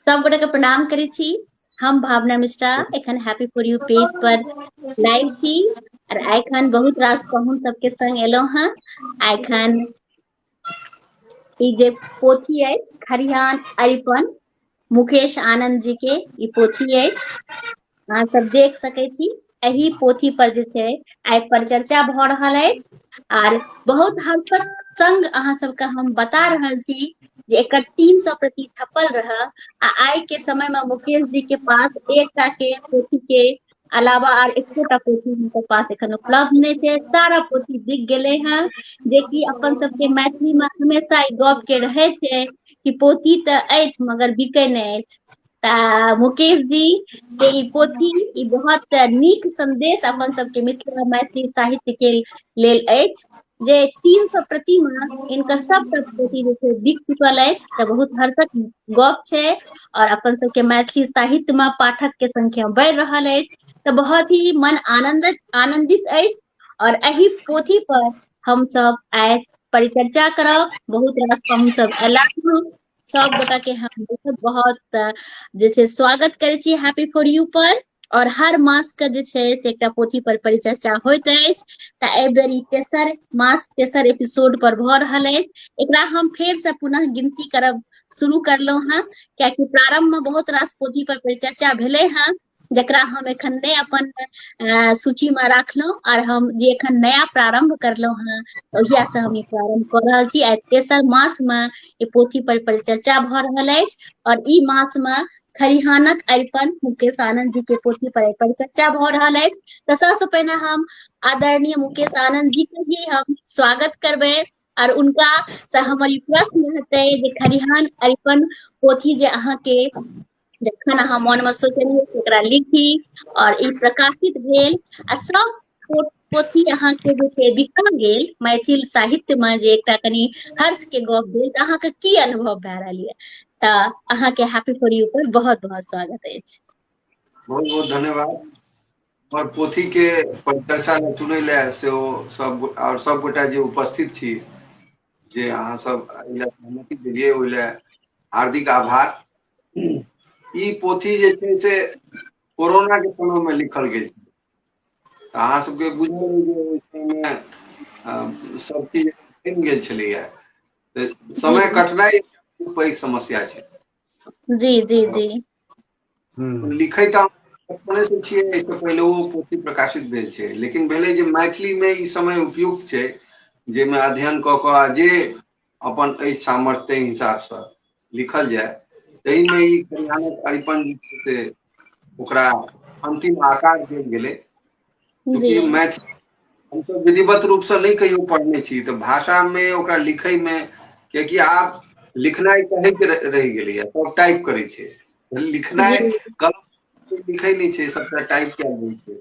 सब गोटे के प्रणाम करै छी हम भावना मिश्रा एखन हैप्पी फॉर यू पेज पर लाइव छी और एखन बहुत रास पहुन सबके संग एलो हैं एखन ई जे पोथी है खरिहान अरिपन मुकेश आनंद जी के ई पोथी है अहाँ सब देख सकै छी एहि पोथी पर जे छै आइ परिचर्चा भऽ रहल अछि आर बहुत हद तक संग अहाँ सबके हम बता रहल छी जे एकर तीन सौ प्रति छपल रह आ आइ के समय मे मुकेश जी के पास एक टा के पोथी के अलावा आर एकोटा पोथी हुनकर पास एखन उपलब्ध नहि छै सारा पोथी बिक गेलै हेँ जेकि अपन सबके मैथिली मे हमेशा ई गप के रहै छै कि पोती तऽ अछि मगर बिकै नहि अछि मुकेश जी के ई पोथी ई बहुत नीक संदेश अपन सबके मिथिला मैथिली साहित्य के लेल अछि जे तीन सौ प्रतिमा इनकर सब प्रति जे छै बिक चुकल अछि तऽ बहुत हर्षक गप छै और अपन सबके मैथिली साहित्य में पाठक के संख्या बढ़ि रहल अछि तऽ बहुत ही मन आनंद आनंदित अछि और एहि पोथी पर हम सब आय परिचर्चा करब बहुत रास हम सब अयला सब गोटा के हम बहुत बहुत जे छै स्वागत करै छी हैप्पी फॉर यू पर और हर मास के जे छै से एकटा पोथी पर परिचर्चा होइत अछि तऽ एहि बेर ई तेसर मास तेसर एपिसोड पर भऽ रहल अछि एकरा हम फेर से पुनः गिनती करब शुरू करलहुँ हेँ कियाकि प्रारंभ में बहुत रास पोथी पर परिचर्चा भेलै हेँ जकरा हम एखन नहि अपन अ सूची मे राखलहुं आर हम जे एखन नया प्रारम्भ करलहुं हेँ ओहिया से हम ई प्रारम्भ कऽ रहल छी आ तेसर मास मे ई पोथी पर परिचर्चा भऽ रहल अछि आओर ई मास मे खरिहानक अरिपन मुकेश आनन्द जी के पोथी पर आइ परिचर्चा भऽ रहल अछि तऽ सबसँ पहिने हम आदरणीय मुकेश आनन्द जी के भी हम स्वागत करबै आर हुनका से हमर ई प्रश्न हेतै जे खरिहान अरिपन पोथी जे अहाँके जखन अहाँ मोनमे सोचलियै ओकरा लिखी आओर ई प्रकाशित भेल आ सभ पोथी अहाँके जे छै बिका गेल मैथिल साहित्यमे जे एकटा कनि हर्षके गप भेल तऽ अहाँके की अनुभव भए रहल यऽ तऽ अहाँके हैप्पी फॉर यू पर बहुत बहुत स्वागत अछि बहुत बहुत धन्यवाद और पोथी के परिचर्चा में सुनै ले से ओ सब और सब गोटा जे उपस्थित छी जे अहाँ सब सहमति दिलियै ओहि ले हार्दिक आभार ई पोथी जे छै से कोरोना के समय मे लिखल गेल छै अहाँ सबके बुझल जे ओहि समयमे अ सब चीज बनि गेल छलैया त जी समय कटनाइ पैघ समस्या छै जी जी जी हूँ लिखै त अपने से छियै एहि से पहिले ओ पोथी प्रकाशित भेल छै लेकिन भेलै जे मैथिली मे ई समय उपयुक्त छै जाहिमे अध्ययन कऽ कऽ आ जे अपन एहि सामर्थ्य ताहि हिसाबसँ लिखल जाय ताहिमे ई कल्याणक अरिपन जे छै से ओकरा अन्तिम आकार देल गेलै जी चूँकि मैथिली हमसभ विधिवत रूपसँ नहि कहियो पढ़ने छी तऽ भाषामे ओकरा लिखयमे किएकि आब लिखनाइ कहैके रहि गेलैए सभ टाइप करै छै लिखनाइ जी कलम लिखै नहि छै सभटा टाइप कयल जाय छै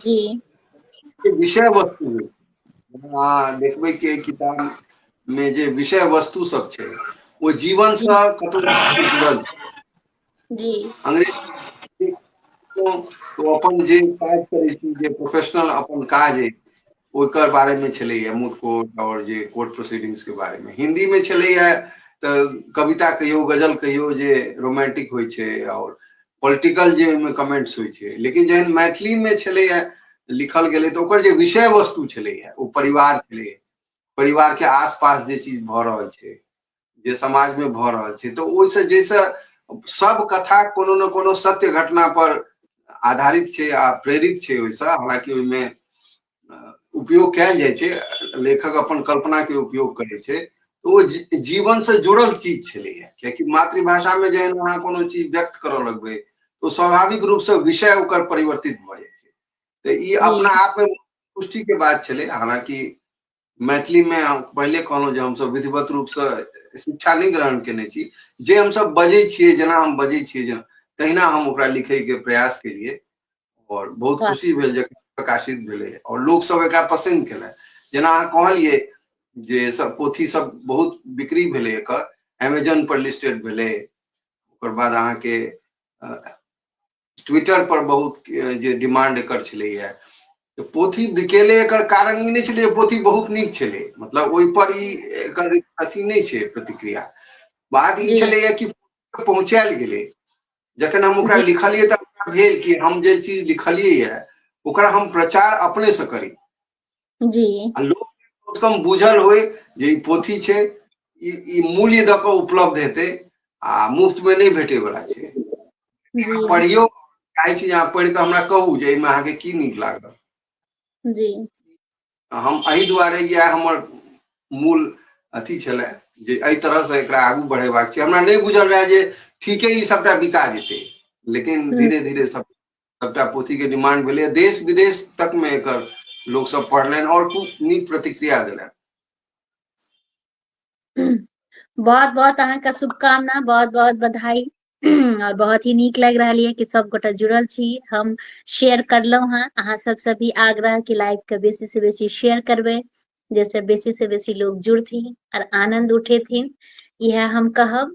जी विषय वस्तु मे अहाँ देखबै के किताब मे जे विषय वस्तु सब छै ओ जीवन जी सँ कतो ना कतो जुड़ल छै जी अंग्रेज ओ अपन जे काज करै छी जे प्रोफेशनल अपन काज अइ ओकर बारेमे छलैए मूट कोर्ट आओर जे कोर्ट प्रोसीडिंग्सके बारेमे हिन्दीमे छलैए तऽ कविता कहियो गजल कहियो जे रोमांटिक होइ छै आओर पॉलिटिकल जे ओहिमे कमेंट्स होइ छै लेकिन जहन मैथिलीमे छलैए लिखल गेलै तऽ ओकर जे विषय वस्तु छलैए ओ परिवार छलैए परिवारके आसपास जे चीज भऽ रहल छै जे समाज में भ रहल छै तो ओहि से जैसे सब कथा कोनो न कोनो सत्य घटना पर आधारित छै आ प्रेरित छै ओहि से हालांकि ओहि में उपयोग कयल जाइ छै लेखक अपन कल्पना के उपयोग करे छै तो ओ जी- जीवन से जुड़ल चीज छलैया कियाकि मातृभाषा में जहन अहाँ कोनो चीज व्यक्त करऽ लगबै तो स्वाभाविक रूप से विषय ओकर परिवर्तित भऽ जाइ छै तऽ ई अपना आप में पुष्टि के बात छलै हालांकि मैथिली में हम पहले कहलहुँ जे हमसब विधिवत रूप से शिक्षा नहीं ग्रहण केने छी जे हमसब बजे छे जना हम बजे छे जना तहिना हम ओकरा लिखे के प्रयास के लिए और बहुत खुशी भेल जे प्रकाशित भेले और लोग सब एकरा पसंद केले जना अहाँ कहलिए जे सब पोथी सब बहुत बिक्री भेले एकर अमेजन पर लिस्टेड भेले ओकर बाद अहाँ के ट्विटर पर बहुत जे डिमांड एकर छलैए पोथी बिकेले एकर कारण ई नहि छलै पोथी बहुत नीक छलै मतलब ओहि पर ई एकर अथी नहि छै प्रतिक्रिया बात ई छलैए कि पहुँचायल गेलै जखन हम ओकरा लिखलियै तऽ भेल कि हम जे चीज लिखलियै यऽ ओकरा हम प्रचार अपनेसँ करी जी आ लोक कम से कम बुझल होय जे ई पोथी छै ई ई मूल्य दऽ कऽ उपलब्ध हेतै आ मुफ्त में नहीं भेटे वाला छै अहाँ जी पढ़ियो चाहै छी जे अहाँ पढ़ि कऽ हमरा कहू जे एहिमे अहाँके की नीक लागल जी हम एहि दुआरे इएह हमर मूल अथी छलै जे एहि तरहसँ एकरा आगू बढ़ेबाक छै हमरा नहि बुझल रहए जे ठीके ई सभटा बिका जेतै लेकिन हम्म। धीरे धीरे सब सभटा पोथीके डिमांड भेलैए देश विदेश तकमे एकर लोकसभ पढ़लनि आओर खूब नीक प्रतिक्रिया देलनि बहुत बहुत अहाँके शुभकामना बहुत बहुत बधाई और बहुत ही नीक लग रहा है कि सब गोटा जुड़ल छी हम शेयर करलो हैं अहाँ सब से भी आग्रह कि लाइव के बेसी से बेसी शेयर करबे जैसे बेसी से बेसी लोग जुड़थिन और आनंद उठेथिन यह हम कहब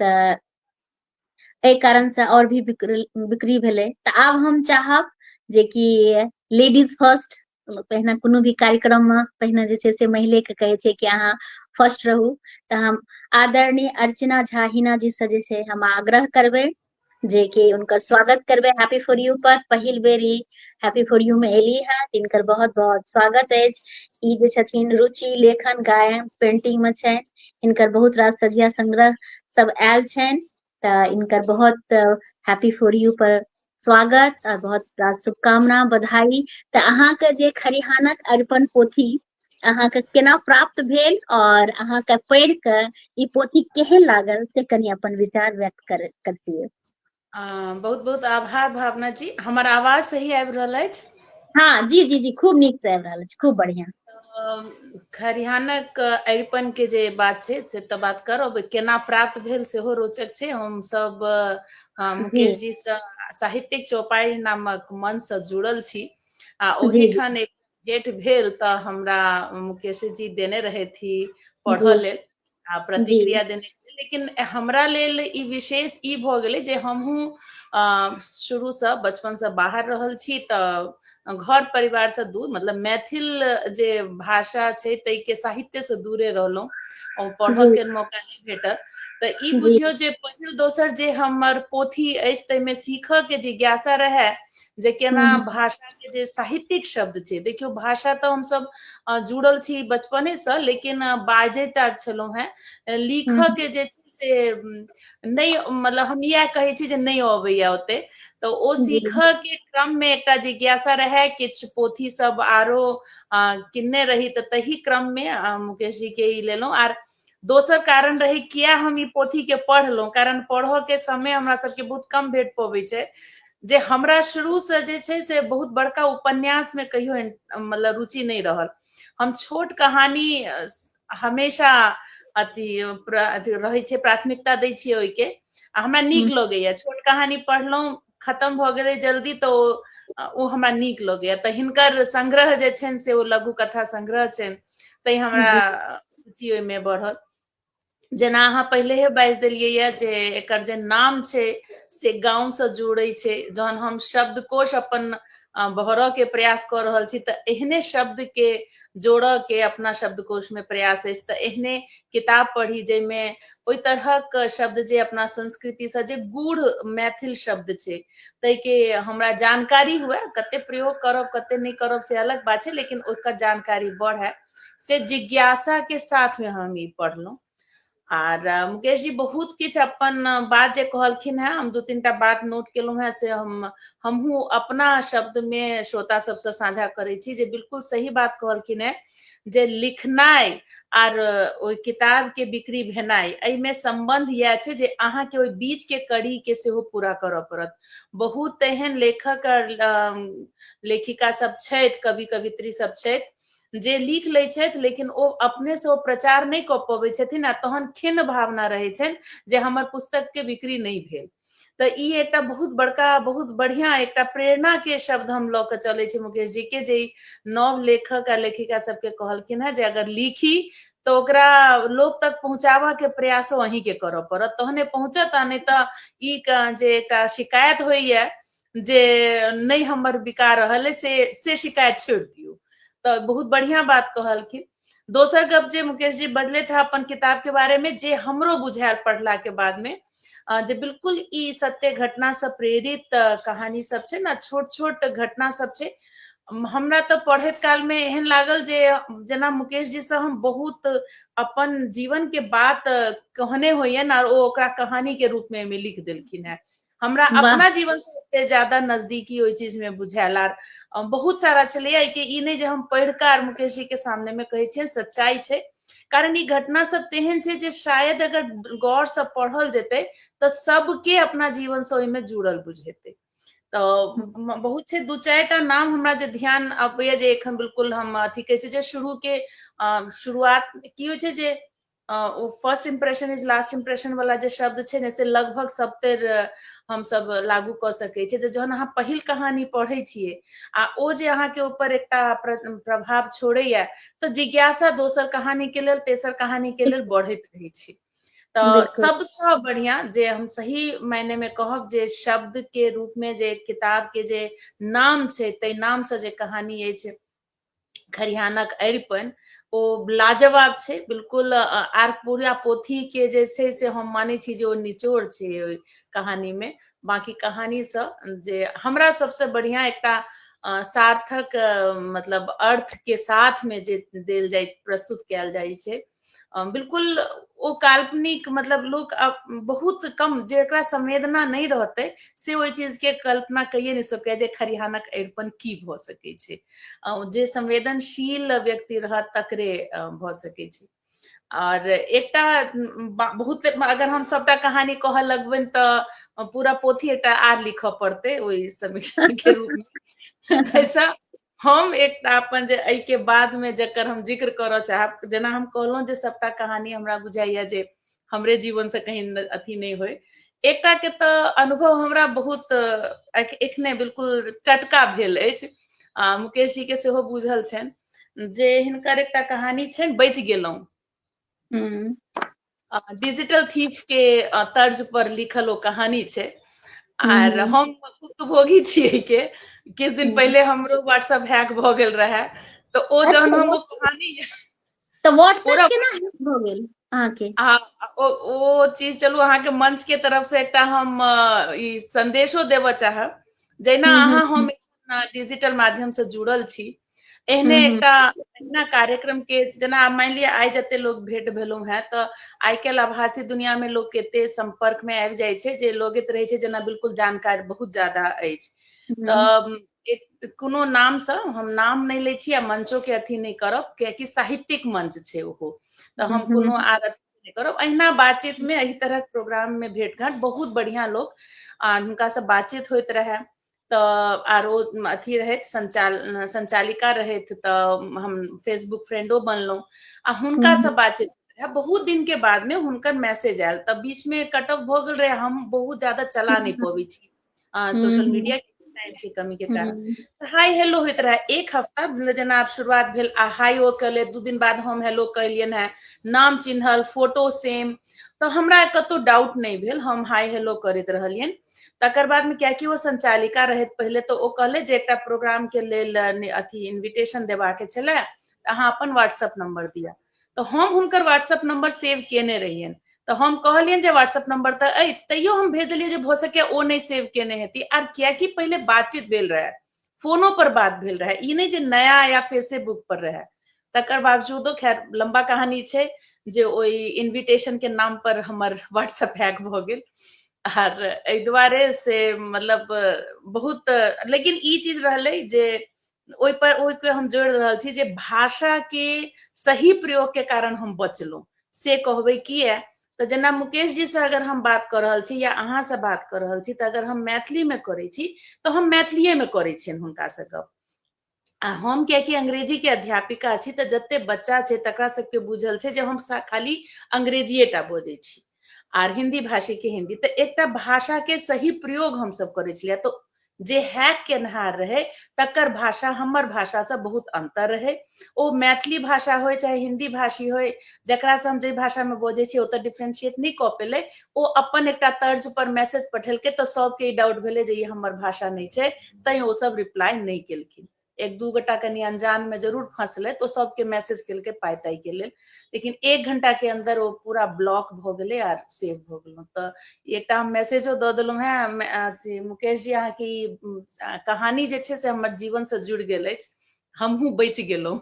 तऽ एहि कारणसँ आओर भी बिक्री बिक्री भेलै तऽ आब हम चाहब जे कि लेडीज फर्स्ट पहिने कोनो भी कार्यक्रममे पहिने जे छै से महिलेके कहै छै कि अहाँ फर्स्ट रहू तऽ हम आदरणीय अर्चना झा हिना जीसँ जे छै हम आग्रह करबै जे कि हुनकर स्वागत करबै हैप्पी फॉर यू पर पहिल बेर ई हैप्पी फॉर यू मे एली है तिनकर बहुत बहुत स्वागत अछि ई जे छथिन रुचि लेखन गायन पेंटिंग में छनि इनकर बहुत रास सजिया संग्रह सब आयल छनि तऽ इनकर बहुत हैप्पी फॉर यू पर स्वागत आ बहुत रास शुभकामना बधाई तऽ अहाँके जे खरिहानक अरिपन पोथी अहाँके केना प्राप्त भेल और अहाँके पढ़ के ई पोथी केहन लागल से कनी अपन विचार व्यक्त कर करतिए बहुत बहुत आभार भावना जी हमर आवाज सही आबि रहल अछि हाँ जी जी जी खूब नीक से आबि रहल अछि खूब बढ़िया खरिहानक अरिपन के जे बात छै से तऽ बात करब केना प्राप्त भेल सेहो रोचक छै हम सब मुकेश जी से साहित्यिक चौपाई नामक मन से जुड़ल छी आ ओहिठाम एक डेट भेल तऽ हमरा मुकेश जी देने रहथि पढ़ऽ लेल आ प्रतिक्रिया देने लेकिन हमरा लेल ई विशेष ई भऽ गेलै जे हमहूँ शुरूसँ बचपनसँ बाहर रहल छी तऽ घर परिवारसँ दूर मतलब मैथिल जे भाषा छै ताहिके साहित्यसँ दूरे रहलहुँ ओ पढ़ऽके मौका नहि भेटल तऽ ई बुझियौ जे पहिल दोसर जे हमर पोथी अछि ताहिमे सीखऽके जिज्ञासा रहए जे केना हम्म। भाषा के जे साहित्यिक शब्द छै देखियौ भाषा तऽ हमसब अ, जुड़ल छी बचपने से लेकिन अ, बाजे टा छलहुँ हेँ अ, लिखऽ हम्म। के जे छै से उम, नहि मतलब हम इएह कहै छी जे नहि अबैए ओते तऽ ओ जी सीखऽ के क्रम मे एकटा जिज्ञासा रहए किछु पोथी सब आरो अ, किनने रही तऽ तही क्रम मे अ, मुकेश जी के ई लेलहुँ आर दोसर कारण रही किया हम ई पोथी के पढ़लहुँ कारण पढ़ऽ के समय हमरा सबके बहुत कम भेट पबै छै जे हमरा शुरू से जे छै से बहुत बड़का उपन्यास में कहियो इन- मतलब रुचि नहीं रहल हम छोट कहानी अ, स- हमेशा अथी प्र- अथी रहै छै प्राथमिकता दै छियै ओहिके आ हमरा नीक लगैया छोट कहानी पढ़लहुँ खतम भऽ गेलै जल्दी तऽ ओ ओ हमरा नीक लगैया तऽ हिनकर संग्रह जे छनि से ओ लघु कथा संग्रह छनि तै हमरा रुचि ओहिमे बढ़ल जेना अहाँ पहिलेहे बाजि देलियै यए जे एकर जे नाम छै से गाँवसँ जोड़ै छै जहन हम शब्दकोश अपन भरऽ के प्रयास कऽ रहल छी तऽ एहने शब्द के जोड़ऽ के अपना शब्दकोश मे प्रयास अछि तऽ एहने किताब पढ़ी जाहिमे ओहि तरहक शब्द जे अपना संस्कृति से जे गूढ़ मैथिल शब्द छै ताहि के हमरा जानकारी हुए कते प्रयोग करब कते नहीं करब से अलग बात है लेकिन ओकर जानकारी बढ़े से जिज्ञासा के साथ में हम ये पढ़लहुँ आर मुकेश जी बहुत किछ अपन बात जे कहलखिन है हम दू तीन टा बात नोट केलहुँ है से हम हमहूँ अपना शब्द में श्रोता सबसे साझा करे छी जे बिल्कुल सही बात कहलखिन है जे लिखनाइ आर ओहि किताब के बिक्री भेनाइ एहिमे संबंध यह छै जे अहाँ के ओहि बीच के कड़ी के सेहो पूरा करऽ पड़त बहुत एहन लेखक आर लेखिका सब छथि कवि कवित्री सब छथि जे लिख लै छथि लेकिन ओ अपने से ओ प्रचार नहि कऽ पबै छथिन आ तहन खिन्न भावना रहै छनि जे हमर पुस्तक के बिक्री नहि भेल तऽ ई एकटा बहुत बड़का बहुत बढ़िया एकटा प्रेरणा के शब्द हम लऽ कऽ चलै छी मुकेश जी के जे नव लेखक आ लेखिका सबके कहलखिन है जे अगर लिखी तऽ ओकरा लोक तक पहुँचाबऽ के प्रयासो अहीं के करऽ पड़त तहने पहुँचत आ नहि तऽ ई जे एकटा शिकायत होइए जे नहि हमर बिका रहल है से से शिकायत छोड़ि दियौ तऽ बहुत बढ़िया बात कहलखिन दोसर गप जे मुकेश जी बजले था अपन किताब के बारे में जे हमरो बुझायल पढ़ला के बाद में जे बिल्कुल ई सत्य घटना से प्रेरित कहानी सब छै ना छोट छोट घटना सब छै हमरा तऽ पढ़ैत काल में एहन लागल जे जेना मुकेश जी से हम बहुत अपन जीवन के बात कहने होयन आर ओ ओकरा कहानी के रूप में लिख देलखिन है हमरा अपना जीवन से एते ज्यादा नजदीकी ओहि चीज में बुझायल आर बहुत सारा छलैया कि ई नहि जे हम पढ़ि कऽ आर मुकेश जी के सामने में कहै छियनि सच्चाई छै कारण ई घटना सब तेहन छै जे शायद अगर गौर से पढ़ल जेतै तऽ सबके अपना जीवन से ओहिमे जुड़ल बुझेतै तऽ बहुत छै दू चारि टा नाम हमरा जे ध्यान अबैया जे एखन बिल्कुल हम अथी कहै छै जे शुरू के शुरुआत की होइ छै जे ओ first impression is last impression वाला जे शब्द छै ने से लगभग सबतर हम सब लागू क सके छी जे जहन अहाँ पहिल कहानी पढ़े छिए आ ओ जे अहाँ के ऊपर एकटा प्रभाव छोड़े या त जिज्ञासा दोसर कहानी के लेल तेसर कहानी के लेल बढ़त रहे छी त सब से बढ़िया जे हम सही मायने में कहब जे शब्द के रूप में जे किताब के जे नाम छै ते नाम से जे कहानी अछि खरिहानक अरिपन ओ लाजवाब छै बिल्कुल आर पूरा पोथी के जे छै से हम मानै छी जे ओ निचोड़ छै ओहि कहानी में बाकी कहानी से जे हमरा सबसे बढ़िया एकटा सार्थक मतलब अर्थ के साथ में जे देल जाय प्रस्तुत कयल जाइ छै बिल्कुल ओ काल्पनिक मतलब लोक बहुत कम जेकरा संवेदना नहीं रहते से ओहि चीज के कल्पना कहिए नहीं सके जे खरिहानक अरिपन की भ सके छे जे संवेदनशील व्यक्ति रह तकरे भ सके छे और एक बहुत अगर हम सबटा कहानी कह लगबन तो पूरा पोथी एक आर लिख पड़ते वही समीक्षा के रूप में हम एकटा अपन जे एहि के बाद में जकर हम जिक्र करऽ चाहब जेना हम कहलहुँ जे सबटा कहानी हमरा बुझाइया जे हमरे जीवन से कहीं न- अथी नहीं होय एकटा के तऽ अनुभव हमरा बहुत अ, एख- एखने बिल्कुल टटका भेल अछि आ मुकेश जी के सेहो बुझल छनि जे हिनकर एकटा कहानी छनि बचि गेलहुँ डिजिटल थीफ के तर्ज पर लिखल ओ कहानी छै आर हम भुक्तभोगी छियै के किछ दिन पहिले हमरो व्हाट्सएप हैक भऽ गेल रहे तऽ ओ अच्छा, जहन हम ओ कहानी तऽ व्हाट्सएप केना हैक भऽ गेल अहाँके आ ओ ओ चीज चलू अहाँके मंच के तरफ से एकटा हम ई संदेशो देबऽ चाहब जहिना अहाँ हम डिजिटल माध्यम से जुड़ल छी एहने हम्म। एकटा एहिना कार्यक्रम के जेना मानि लिअ आइ जते लोग भेंट भेलहुँ हैं तऽ आइ काल्हि आभासी दुनिया में लोग एते सम्पर्क में आबि जाइ छै जे लगैत रहै छै जेना बिल्कुल जानकार बहुत ज्यादा अछि हम्म। तऽ एक कोनो नामसँ हम नाम नहि लै छी आ मंचोके अथी नहि करब कियाकि साहित्यिक मंच छै ओहो तऽ हम हम्म। कोनो आर अथी नहि करब अहिना बातचीत में एहि तरहक प्रोग्राम में भेट घाट बहुत बढ़िआँ लोक आ हुनकासँ बातचीत होइत रहए तऽ आरो अथी रहथि संचाल संचालिका रहथि तऽ हम फेसबुक फ्रेंडो बनलहुँ आ हुनका से बातचीत बहुत दिन के बाद में हुनकर मैसेज आयल तब बीच में कट ऑफ भऽ गेल रहे हम बहुत ज्यादा चला नहि पबै छी सोशल मीडिया टाइम के कमी के कारण हाय हेलो होइत रहे एक हफ्ता मतलब जेना आब शुरुआत भेल आ हाय ओ कले दू दिन बाद हम हेलो कैलियन है नाम चिन्हल फोटो सेम तऽ हमरा कतौ डाउट नहि भेल हम हाय हेलो करैत रहलियनि तकर बाद में क्या कि वो संचालिका रहे पहले तो वो कहले जे एक प्रोग्राम के लेल अथी इनविटेशन देवा के छे अहाँ अपन व्हाट्सअप नंबर दिया तो हम हुनकर व्हाट्सअप नंबर सेव केने रहियन तो हम कहलियन जे व्हाट्सअप नंबर तो अच तैयो हम भेजलिए जे भो सके ओ नहीं सेव केने हेती आर किया कि पहले बातचीत भेल रहे फोनो पर बात भेल रहे ई नहि जे नया या फेसबुक पर रहे तकर बावजूदो खैर लंबा कहानी छै जे ओहि इनविटेशन के नाम पर हमर व्हाट्सएप हैक भऽ गेल आर एहि दुआरे से मतलब बहुत लेकिन ई चीज रहलै जे ओहि पर ओहि पर हम जोड़ि रहल छी जे भाषा के सही प्रयोग के कारण हम बचलहुँ से कहबै किया तऽ जेना मुकेश जी से अगर हम बात कऽ रहल छी या अहाँ से बात कऽ रहल छी तऽ अगर हम मैथिली में करै छी तऽ हम मैथिलीए में करै छियनि हुनका से गप आ हम कियाकि अंग्रेजी के अध्यापिका छी तऽ जते बच्चा छै तकरा सबके बुझल छै जे हम सा- खाली अंग्रेजीए टा बजै छी आर हिंदी भाषी के हिंदी तऽ एकटा भाषा के सही प्रयोग हम सब करै छलियै तऽ जे हैक केनहार रहे तकर भाषा हमर भाषा से बहुत अंतर रहे ओ मैथिली भाषा होय चाहे हिंदी भाषी होय जकरा से हम जे भाषा में बोझे छी ओत डिफ्रेंशिएट नहीं क पेले ओ अपन एक तर्ज पर मैसेज पठेलके तो सबके डाउट भेले जे ये हमर भाषा नहीं छै तै ओ सब रिप्लाई नहीं केलखिन एक दू गोटा कनि अनजान में जरूर फंसले तो सबके मैसेज कल के पाई ताई के लेल लेकिन एक घंटा के अंदर वो पूरा ब्लॉक भ गए आर सेव भ गल तो एक हम मैसेजो द दिल है अथी मुकेश जी अहाँ की कहानी जे छे से हमर जीवन से जुड़ गए हमहू बच गलो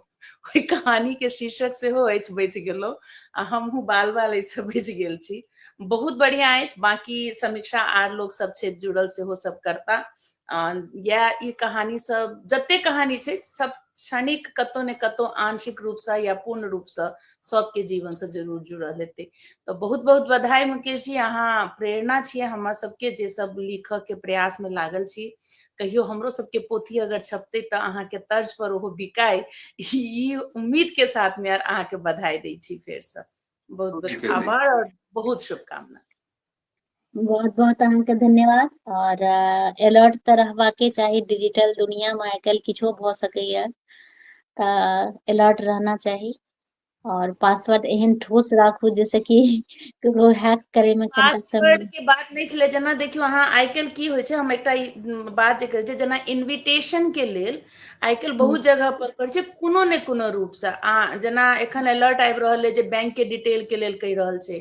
कोई कहानी के शीर्षक से हो बच गलो आ हमहू बाल बाल ऐसे बच गए छी बहुत बढ़िया है बाकी समीक्षा आर लोग सब छे जुड़ल से हो सब करता यह कहानी सब जते कहानी छे सब क्षणिक कतो ने कतो आंशिक रूप से या पूर्ण रूप से सबके जीवन से जरूर जुड़ल हेतै तो बहुत बहुत बधाई मुकेश जी अहाँ प्रेरणा छे हम सबके जे सब लिख के प्रयास में लागल छी कहियो हमरो सबके पोथी अगर छपते तो अहाँ के तर्ज पर ओहो बिकाय ई उम्मीद के साथ में अहाँ के बधाई दै छी फेर से बहुत बहुत आभार और बहुत शुभकामना बहुत बहुत अहाँके धन्यवाद और अलर्ट तऽ रहबाके चाही डिजिटल दुनिया में आइ काल्हि किछो भऽ सकैए तऽ अलर्ट रहना चाही और पासवर्ड एहन ठोस राखू जैसे कि ककरो हैक करे में पासवर्ड के बात नहीं छलै जेना देखियौ अहाँ आइ काल्हि की होइ छै हम एकटा बात जे करै छियै जेना इन्विटेशन के लेल आइ काल्हि बहुत जगह पर करै छै कोनो ने कोनो रूप से आ जेना एखन अलर्ट आबि रहल अइ जे बैंक के डिटेल के लेल कहि रहल छै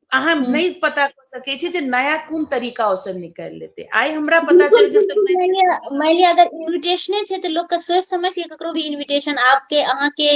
अहाँ हम्म। नहीं पता कर सके छी जे नया कोन तरीका ओ सब निकाल लेते आइ हमरा पता चल गेल त तो मान लिया अगर इनविटेशने छै त लोग के सोच समझ के ककरो भी इनविटेशन आपके अहाँ के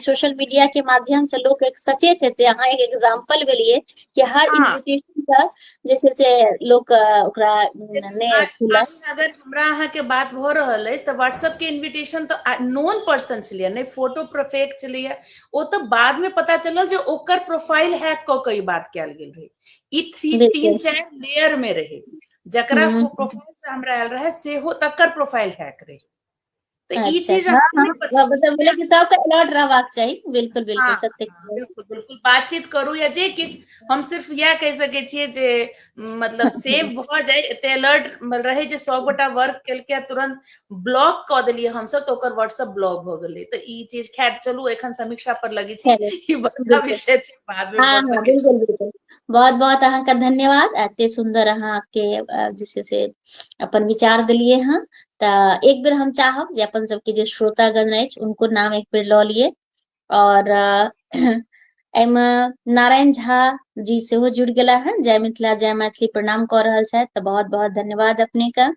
सोशल मीडिया के माध्यम से लोग एक सचेत हेते अहाँ एक एग्जांपल भेलिए कि हर इनविटेशन हाँ। का जैसे से लोग ओकरा ने खुला अगर हमरा अहाँ के बात भ रहल है त व्हाट्सएप के इनविटेशन त नोन पर्सन छलिए ने फोटो परफेक्ट छलिए ओ तऽ बाद में पता चलल जे ओकर प्रोफाइल हैक क के ई बात कयल गेल रहे ई थ्री तीन बिल्कुल। चार लेयर में रहे जकरा हम्म। प्रोफाइल से हमरा आयल रहे सेहो तकर प्रोफाइल हैक रहे तऽ ई अच्छा, चीज हाँ, हमरा हाँ, नहीं पता हाँ, मतलब बोले कि सबके अलर्ट रहबाक चाही बिल्कुल बिल्कुल हाँ, सत्य हाँ, कहलियै। बिल्कुल बिल्कुल बातचीत करू या जे किछु हम सिर्फ इएह कहि सकै छियै जे म, मतलब सेव भऽ जाय एते अलर्ट रहै जे सौ गोटा वर्क केलकै आ तुरंत ब्लॉक कऽ देलियै हमसब तऽ ओकर व्हाट्सएप ब्लॉक भऽ गेलै तऽ ई चीज खैर चलू एखन समीक्षा पर लगे छी चलू, ई बड़का बिल्कुल। विषय छै बाद मे हँ भऽ हँ सकै बिल्कुल बिल्कुल बहुत बहुत अहाँके धन्यवाद एते सुन्दर अहाँके अ, जे छै से अपन विचार देलियै हँ तऽ एक बेर हम चाहब जे अपन सबके जे श्रोतागण अछि उनको नाम एक बेर लऽ लिए और अ, एहिमे नारायण झा जी सेहो जुड़ि गेला हँ जय मिथिला जय मैथिली प्रणाम कऽ रहल छथि तऽ बहुत बहुत धन्यवाद अपने के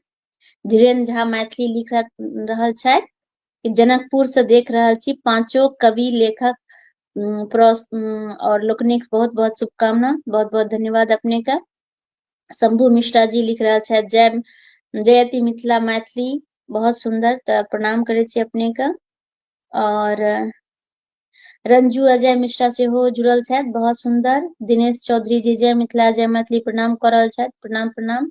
धीरेन्द्र झा मैथिली लिख रहल छथि जनकपुर से देख रहल छी पांचो कवि लेखक और लोकनिक बहुत बहुत शुभकामना बहुत बहुत धन्यवाद अपने का शंभू मिश्रा जी लिख रहा छथि जय जयति मिथिला मैथिली बहुत सुंदर तऽ प्रणाम करै छी अपने का और रंजू अजय मिश्रा से हो जुड़ल छथि बहुत सुंदर दिनेश चौधरी जी जय मिथिला जय मैथिली प्रणाम कर रहल छथि प्रणाम प्रणाम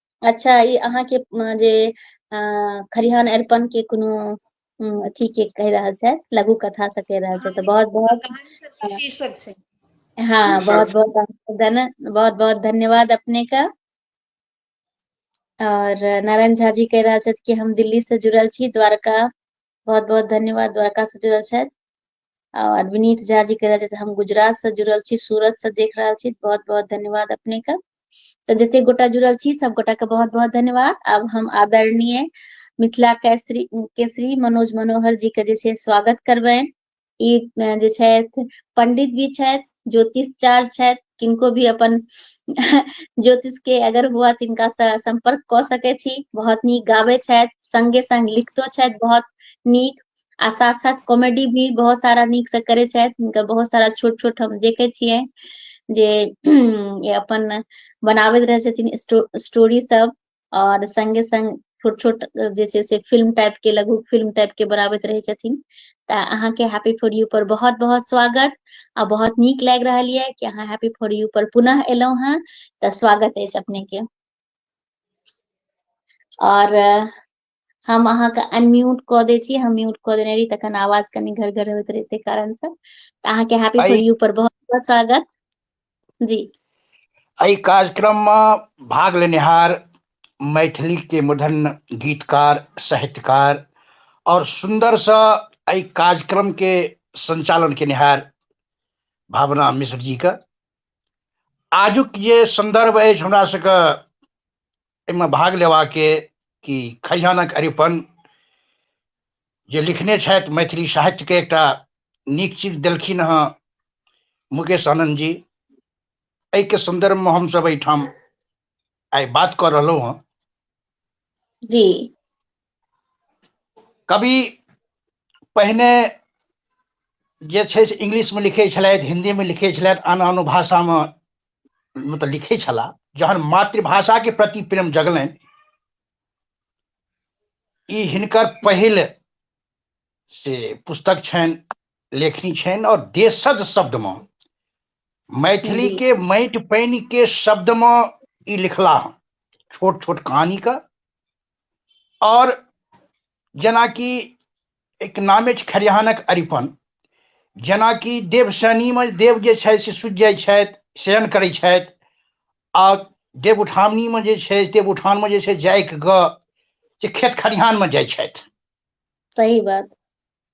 अच्छा ई अहाँके अ, जे अ, खरिहान अरिपन के कोनो उम, अथी के कहि रहल छथि लघु कथा से कहि रहल छथि तऽ बहुत बहुत कहानी सबके अ, शीर्षक छै हाँ बहुत शीर्षक बहुत अहाँके धन बहुत बहुत धन्यवाद अपने का और नारायण झा जी कह रहा छथि कि हम दिल्ली से जुड़ल छी द्वारका बहुत बहुत धन्यवाद द्वारका से जुड़ल छथि और विनीत झा जी कह रहे हम गुजरात से जुड़ल छी सूरत से देख रहा छी बहुत बहुत धन्यवाद अपने का तो जते गोटा जुड़ल छी सब गोटा के बहुत बहुत धन्यवाद अब हम आदरणीय मिथिला केसरी केसरी मनोज मनोहर जी के जैसे स्वागत करबे ई जे छथि पंडित भी छथि ज्योतिष चार छथि किनको भी अपन ज्योतिष के अगर हुआ तिनका से संपर्क कऽ सकै छी बहुत नीक गाबै छथि संगे संग लिखतो छथि बहुत नीक आ साथ साथ कॉमेडी भी बहुत सारा नीक से करै छथि हुनकर बहुत सारा छोट छोट हम देखै छियै जे अपन बनाबैत रहै छथिन स्टोरी सब आओर सङ्गे सङ्ग छोट छोट जे छै से फिल्म टाइपके लघु फिल्म टाइपके बनाबैत रहै छथिन तऽ अहाँके हैप्पी फॉर यू पर बहुत बहुत स्वागत आ बहुत नीक लागि रहल यऽ कि अहाँ हैप्पी फॉर यू पर पुनः एलहुँ हेँ तऽ स्वागत अछि अपनेके आओर हम अहाँके अनम्यूट कऽ दै छी हम म्यूट कऽ देने रही तखन आवाज कनि घर घर होइत रहे ताहि कारण से तऽ अहाँके हैप्पी फॉर यू पर बहुत बहुत स्वागत जी एहि कार्यक्रम मे भाग लेनिहार मैथिली के मधन गीतकार साहित्यकार और सुंदर सा एहि कार्यक्रम के संचालन केनिहार भावना मिश्र जी के आजुक जे संदर्भ अछि हमरा सबके एहिमे भाग लेबाके कि खजानक अरिपन जे लिखने छथि मैथिली साहित्यके एकटा नीक चीज देलखिन हँ मुकेश आनन्द जी एहिके सन्दर्भमे हमसभ एहिठाम आइ बात कऽ रहलहुँ हँ जी कवि पहिने जे छै से इंग्लिशमे लिखै छलथि हिन्दीमे लिखै छलथि आन आन भाषामे मतलब लिखै छलाह जहन मातृभाषा के प्रति प्रेम जगलनि ई हिनकर पहिल से पुस्तक छनि लेखनी छनि और देशज शब्द में मैथिली के माटि पानि के शब्द में ई लिखला छोट छोट कहानी का आओर जेनाकि एक नामे छै खरिहानक अरिपन जेनाकि देव शनिमे देव जे छथि से सुति जाइ छथि शयन करै छथि आ देव उठावनीमे जे छै देव उठानमे जे छै जाइक ग जे खेत खरिहानमे जाइ छथि सही बात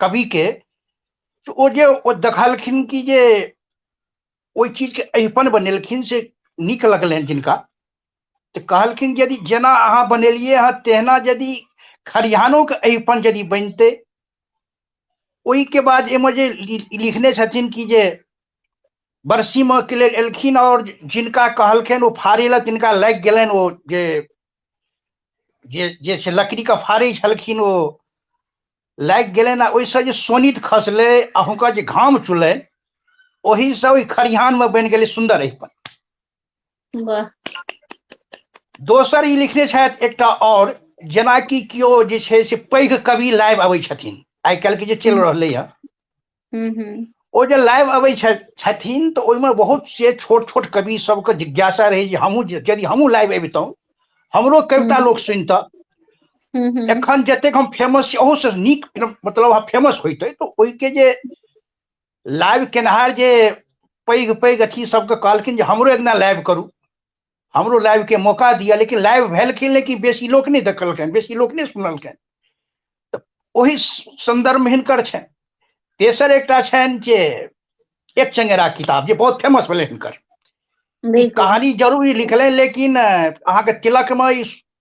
कवि के तऽ ओ जे ओ देखलखिन कि जे ओहि चीज के अहिपन बनेलखिन से नीक लगलनि जिनका तऽ कहलखिन यदि जेना अहाँ बनेलियै हँ तेहना यदि खरिहानो के अहिपन यदि बनतै ओहि के बाद एहिमे जे लि- लिखने छथिन कि जे बरसीमऽ के लेल एलखिन आओर जिनका कहलखिन ओ फाड़ै लए तिनका लागि गेलनि ओ जे जे जे छै लकड़ीके फाड़ै छलखिन ओ लागि गेलनि आ ओहिसँ जे सोनित खसलै आ हुनकर जे घाम चुलनि ओहिसँ ओहि खरिहानमे बनि गेलै सुन्दर अहिपन वाह दोसर ई लिखने छथि एकटा आओर जेनाकि केओ जे छै से पैघ कवि लाइव अबै छथिन आइ काल्हिके जे चलि रहलै हँ हम्म, हम्म। ओ जे लाइव अबै छथिन तऽ ओहिमे बहुत से छोट छोट कवि सबके जिज्ञासा रहै जे हमहूँ यदि हमहूँ लाइव अबितहुँ हमरो कविता हम्म। लोक सुनता एखन जतेक हम फेमस छी ओहूसँ नीक मतलब हम फेमस होइतै तऽ ओहिके जे लाइव केनहार जे पैघ पैघ अथी सबके कहलखिन जे हमरो एकदिना लाइव करू हमरो लाइव के मौका दिया लेकिन लाइव भेलखिन लेकिन बेसी लोक नहीं देखलखिन बेसी लोक नहीं सुनलखिन तऽ ओहि संदर्भ में हिनकर छनि तेसर एक छनि जे एक चंगेरा किताब जे बहुत फेमस भेलै हिनकर कहानी जरूर लिखल है लेकिन अहाँ के तिलक में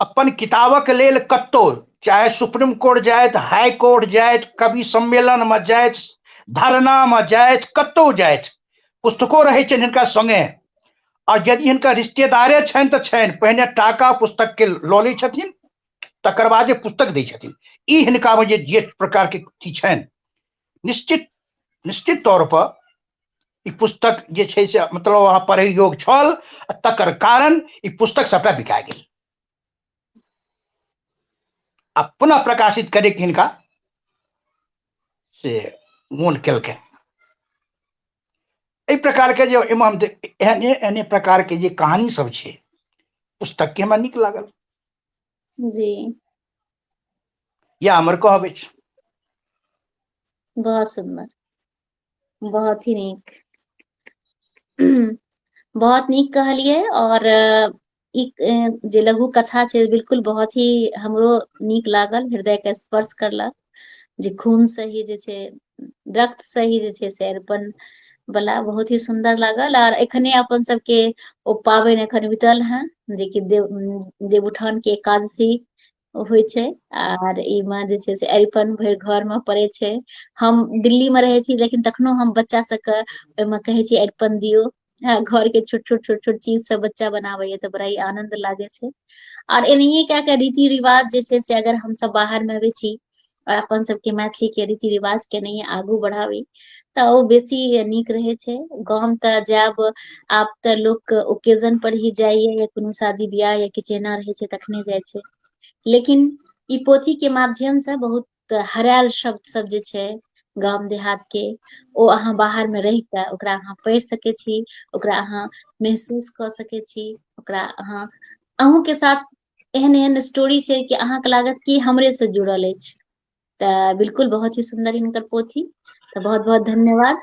अपन किताबक लेल कतहु चाहे सुप्रीम कोर्ट जायत हाई कोर्ट जायत कवि सम्मेलन में जायत धरना में जायत कतहु जायत पुस्तको रहै छनि हिनका संगे और यदि हिनका रिश्तेदारे छनि तऽ छनि पहिने टाका पुस्तक के लऽ लै छथिन तकर बाद जे पुस्तक दै छथिन ई हिनका में जे जे प्रकार के छनि निश्चित निश्चित तौर पर ई पुस्तक जे छै से मतलब वहाँ पढ़े योग छल तकर कारण ई पुस्तक सबटा बिका गेल आ पुनः प्रकाशित करे के हिनका से मोन केलकै एहि प्रकार के जे इमाम एहने एहने प्रकार के जे कहानी सब छै पुस्तक के हमरा नीक लागल जी या हमर कहब अछि बहुत सुंदर बहुत ही नीक बहुत नीक कहलिए और ई जे लघु कथा छै बिल्कुल बहुत ही हमरो नीक लागल हृदय के स्पर्श करलक जे खून से ही जे छै रक्त से ही जे छै से अरिपन बला बहुत ही सुंदर लागल आर एखने अपन सबके ओ पाबनि एखन बितल हैं जेकि देव देवउठान के एकादशी होइ छै आर ई मे जे छै से अरिपन भरि घर मे पड़े छै हम दिल्ली मे रहै छी लेकिन तखनो हम बच्चा सबके ओहिमे कहै छी अरिपन दियौ हँ घर के छोट छोट छोट छोट चीज सब बच्चा बनाबै या तऽ बड़ा ही आनंद लागे छै आओर एनाहिए कए कऽ रीति रिवाज जे छै से अगर हमसभ बाहरमे अबै छी आओर अपन सभके मैथिलीके रीति रिवाज केनाहिए आगू बढ़ाबी तऽ ओ बेसी नीक रहै छै गाम तऽ जायब आब तऽ लोक ओकेजन पर ही जाइए या कोनो शादी बियाह या किछु एना रहै छै तखने जाइ छै लेकिन ई पोथी के माध्यम से बहुत तऽ हरायल शब्द सब जे छै गाम देहात के ओ अहाँ बाहर मे रहि कऽ ओकरा अहाँ पढ़ि सकै छी ओकरा अहाँ महसूस कऽ सकै छी ओकरा अहाँ अहूँके साथ एहन एहन स्टोरी छै कि अहाँके लागत की हमरे से जुड़ल अछि तऽ बिलकुल बहुत ही सुन्दर हिनकर पोथी तऽ बहुत बहुत धन्यवाद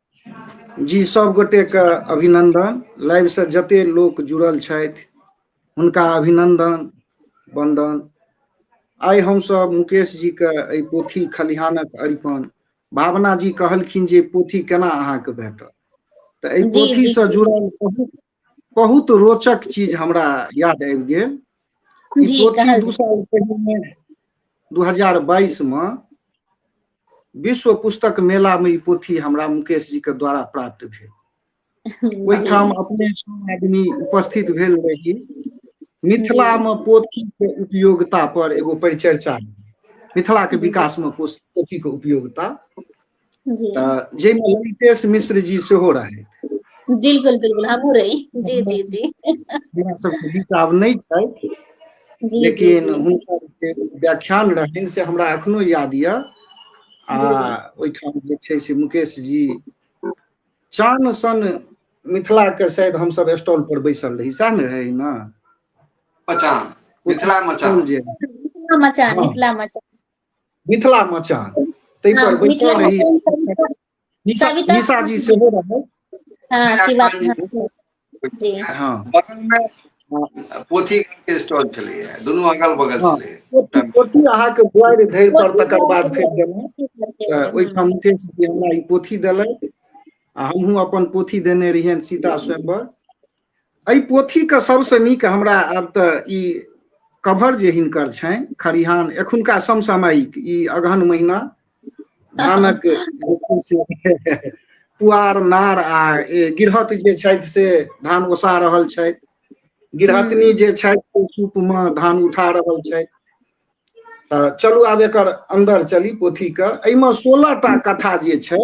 जी सब गोटे के अभिनंदन लाइव से जते लोक जुड़ल छथि हुनका अभिनंदन वंदन आइ हम सब मुकेश जी के ए पोथी खलिहानक अरिपन भावना जी कहलखिन जे पोथी केना अहाँ के भेटल तऽ एहि पोथी से जुड़ल बहुत बहुत रोचक चीज हमरा याद आबि गेल दू साल पहिने दू हजार बाईस मे विश्व पुस्तक मेला में ई पोथी हमरा मुकेश जी के द्वारा प्राप्त भेल ओहिठाम अपने आदमी उपस्थित भेल रही मिथिला में पोथी के उपयोगिता पर एगो परिचर्चा मिथिला के विकास में पोथी के उपयोगिता जाहिमे ललितेश मिश्र जी सेहो रहथि बिल्कुल बिल्कुल हमहूँ रही जी जी जी हमरा सबके बीच आब नहि छथि लेकिन हुनकर जे व्याख्यान रहनि से हमरा एखनो याद यऽ आ ओहिठाम जे छै से मुकेश जी चान सन मिथिलाके शायद हमसब स्टॉल पर बैसल रही सएह ने रहै ने मचान मिथिला मचान जे मिथिला मचान मिथिला मचान मिथिला मचान ताहि पर बैसल रही निशा जी सेहो रहल पोथी के स्टॉल छलैया दुनू अगल बगल छलैया पोथी अहाँके दुआरि धरि पर तकर बाद फेर गेलहुँ ओहिठाम मुकेश जी हमरा ई पोथी देलथि आ हमहूँ अपन पोथी देने रहियनि सीता स्वयंवर एहि पोथीके सबसँ नीक हमरा आब तऽ ई कवर जे हिनकर छनि खरिहान एखुनका समसामयिक ई अगहन महिना धानक पुआर नार आ गिरहत जे छथि से धान ओसा रहल छथि गिरहतनी जे छथि से सूपमे धान उठा रहल छथि तऽ चलू आब एकर अन्दर चली पोथीके एहिमे सोलह टा कथा जे छै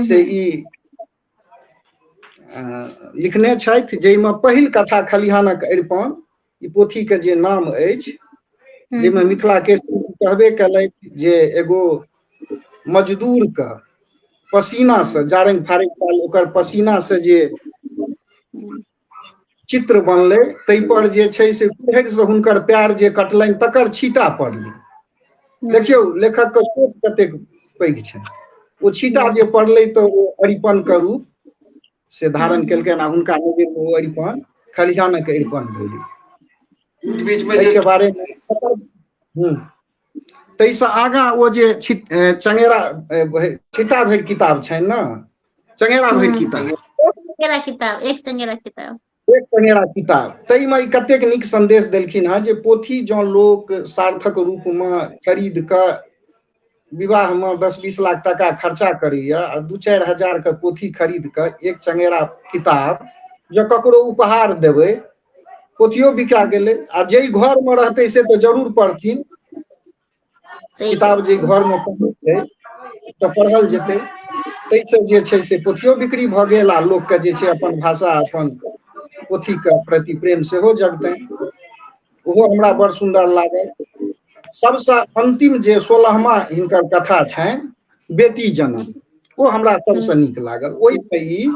से ई लिखने छथि जाहिमे पहिल कथा खलिहानक अरिपन ई पोथीके जे नाम अछि जाहिमे मिथिला के कहबे कयलथि जे एगो मजदूरके पसीनासँ जारनि फारनि पाल ओकर पसीनासँ जे चित्र बनलै ताहिपर जे छै से कुहरिसँ हुनकर प्यार जे कटलनि तकर छीटा पड़लै देखियौ लेखकके सोच कतेक पैघ छनि ओ छीटा जे पड़लै तऽ ओ अरिपनके रूप से धारण केलकनि आ हुनका नजरमे ओ अरिपन खलिहानक अरिपन भेलै बीचमे जे बारेमे ताहिसँ आगाँ ओ जे चंगेरा छिटा भरि किताब छनि ने चंगेरा भरि हम्म। किताब चंगेरा किताब एक चंगेरा किताब एक चंगेरा किताब ताहिमे ई कतेक नीक संदेश देलखिन हँ जे पोथी जँ लोक सार्थक रूपमे खरीद कऽ विवाहमे दस बीस लाख टाका खर्चा करैए आ दू चारि हजारके पोथी खरीद कऽ एक चंगेरा किताब जँ ककरो उपहार देबै पोथियो बिका गेलै आ जाहि घर में रहते से तो जरूर पढ़थिन किताब जे घर में पढ़तै तऽ पढ़ल जेतै ताहिसँ जे छै से पोथियो बिक्री भऽ गेल आ लोकके जे छै अपन भाषा अपन पोथीके प्रति प्रेम सेहो जगतनि ओहो हमरा बड़ सुन्दर लागल सबसँ अन्तिम जे सोलहमा हिनकर कथा छनि बेटी जनम ओ हमरा सबसँ हम्म। नीक लागल ओहिमे ई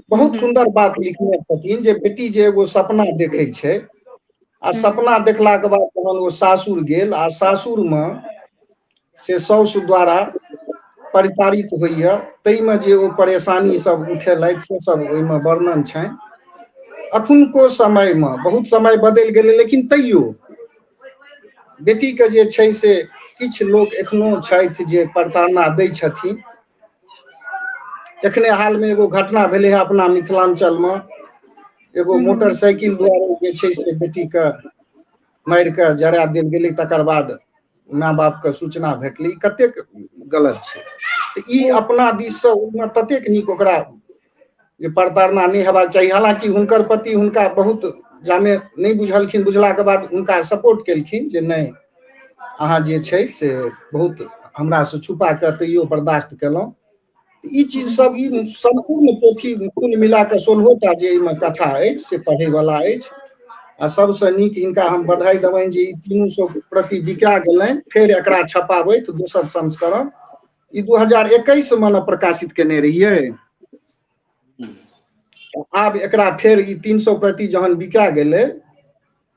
बहुत हम्म। सुंदर बात लिखने छथिन जे बेटी जे एगो सपना देखै छै आ हम्म। सपना देखलाके बाद जहन ओ सासुर गेल आ सासुरमे से साउस द्वारा परिचारित होइए ताहिमे जे ओ परेशानी सब उठेलथि से सब ओहिमे वर्णन छनि अखुनको समयमे बहुत समय बदलि गेलै लेकिन तैयो बेटीके जे छै से किछु लोक एखनो छथि जे प्रताड़ना दै छथिन एखने हालमे एगो घटना भेलै है अपना मिथिलाञ्चलमे एगो हम्म। मोटरसाइकिल द्वारा जे छै से बेटीके मारि कऽ जरा देल गेलै तकर बाद माय बापके सूचना भेटलै कतेक गलत छै ई अपना दिससँ ओहिमे ततेक नीक ओकरा जे प्रताड़ना नहि हेबाक चाही हालांकि हुनकर पति हुनका बहुत जामे नहि बुझलखिन बुझलाके बाद हुनका सपोर्ट केलखिन जे नहि अहाँ जे छै से बहुत हमरासँ छुपा कऽ तैयो बर्दाश्त केलहुँ ई चीज सब ई सम्पूर्ण पोथी कुल मिला कऽ सोलहो टा जे एहिमे कथा अछि से पढ़ैवला अछि आ सबसँ नीक हिनका हम बधाई देबनि जे ई तीनू सौ प्रति बिका गेलनि फेर एकरा छपाबैत दोसर संस्करण ई दू हजार एकैस मे ने प्रकाशित केने रहियै आब एकरा फेर ई तीन सौ प्रति जहन बिका गेलै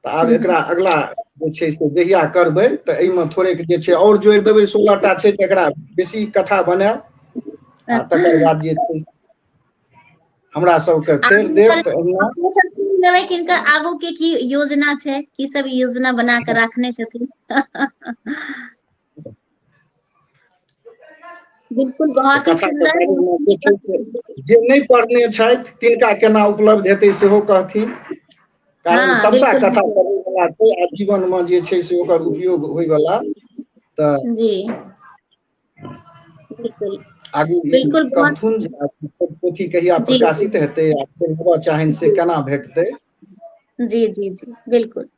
तऽ आब एकरा अगला जे छै से जहिया करबै तऽ एहिमे थोड़ेक जे छै आओर जोड़ि देबै सोलह टा छै तऽ एकरा बेसी कथा बनायब आ तकर बाद जे छै हमरा सबके फेर देव तऽ अहिना लेबै किनकर आगू के की योजना छै की सब योजना बना के राखने छथिन बिल्कुल बहुत ही सुंदर जे नहीं पढ़ने छथि तिनका केना उपलब्ध हेतै सेहो कहथिन कारण हाँ, सबटा कथा पढ़ै वाला छै आ जीवन में जे छै से ओकर उपयोग होय वाला त जी बिल्कुल आगू बिल्कुल कथुन पोथी कहिया प्रकाशित हेतै आ पढ़बऽ चाहैन से केना भेटतै जी जी जी बिलकुल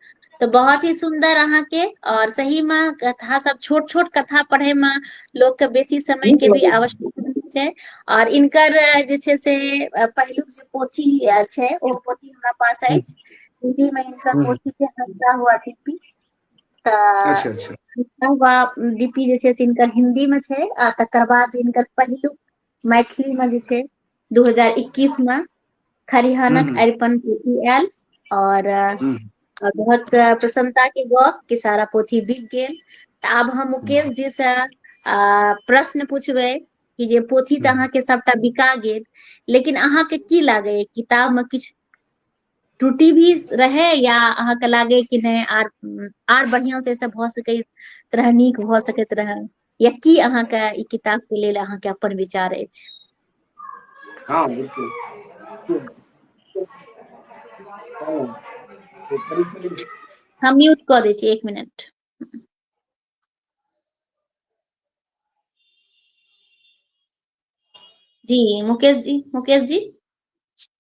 तऽ बहुत ही सुन्दर अहाँके और सही मे कथा सब छोट छोट कथा पढ़े मे लोक के बेसी समय नीक के भी लगै छै आवश्यकता होय छै और इनकर जे छै से पहिलुक जे पोथी ये छै ओ पोथी हमरा पास हूँ अछि हिन्दी मे हिनकर हूँ पोथी छै हँसता हुआ दीपी अच्छा अच्छा तऽ ब डी पी जे छै से हिनकर हिन्दी मे छै आ तकर बाद हिनकर पहिलुक मैथिली मे जे छै दू हजार एकैस मे हूँ खरिहानक हूँ अरिपन पोथी आयल और हूँ आ बहुत प्रसन्नता के गप कि सारा पोथी बिक गेल तऽ आब हम हूँ मुकेश जी से आ प्रश्न पूछबै कि जे पोथी तऽ हूँ अहाँके सबटा बिका गेल लेकिन अहाँके की लागैया किताब मे किछु त्रुटि भी रहै या अहाँके लागै कि नहि आर आर बढ़िआं से सब भऽ सकै रहै नीक भऽ सकैत रहै या की अहाँके ई किताब के लेल अहाँके अपन विचार अछि हँ बिलकुल हम म्यूट कऽ दै छी एक मिनट जी मुकेश जी मुकेश जी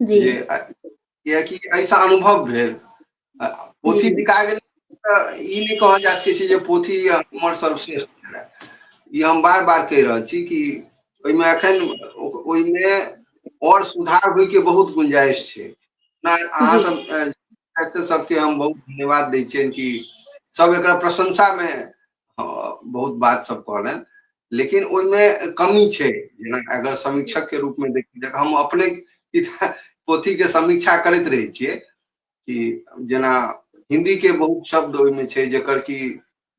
जी जे कियकि एहिसँ अनुभव भेल पोथी जी बिका गेल तऽ ई नहि कहल जा सकै छै जे पोथी हमर सर्वश्रेष्ठ छले ई हम बार बार कहि रहल छी कि ओहिमे एखन ओहिमे आओर सुधार होइके बहुत गुंजाइश छै नहि अहाँ जी सब सबके हम बहुत धन्यवाद दै छियनि कि सब एकरा प्रशंसा मे हँ, बहुत बात सब कहलनि लेकिन ओहिमे कमी छै जेना अगर समीक्षक के रूप में देखी जखन हम अपने पोथी के समीक्षा करैत रहै छियै कि जेना हिंदी के बहुत शब्द ओहिमे छै जकर कि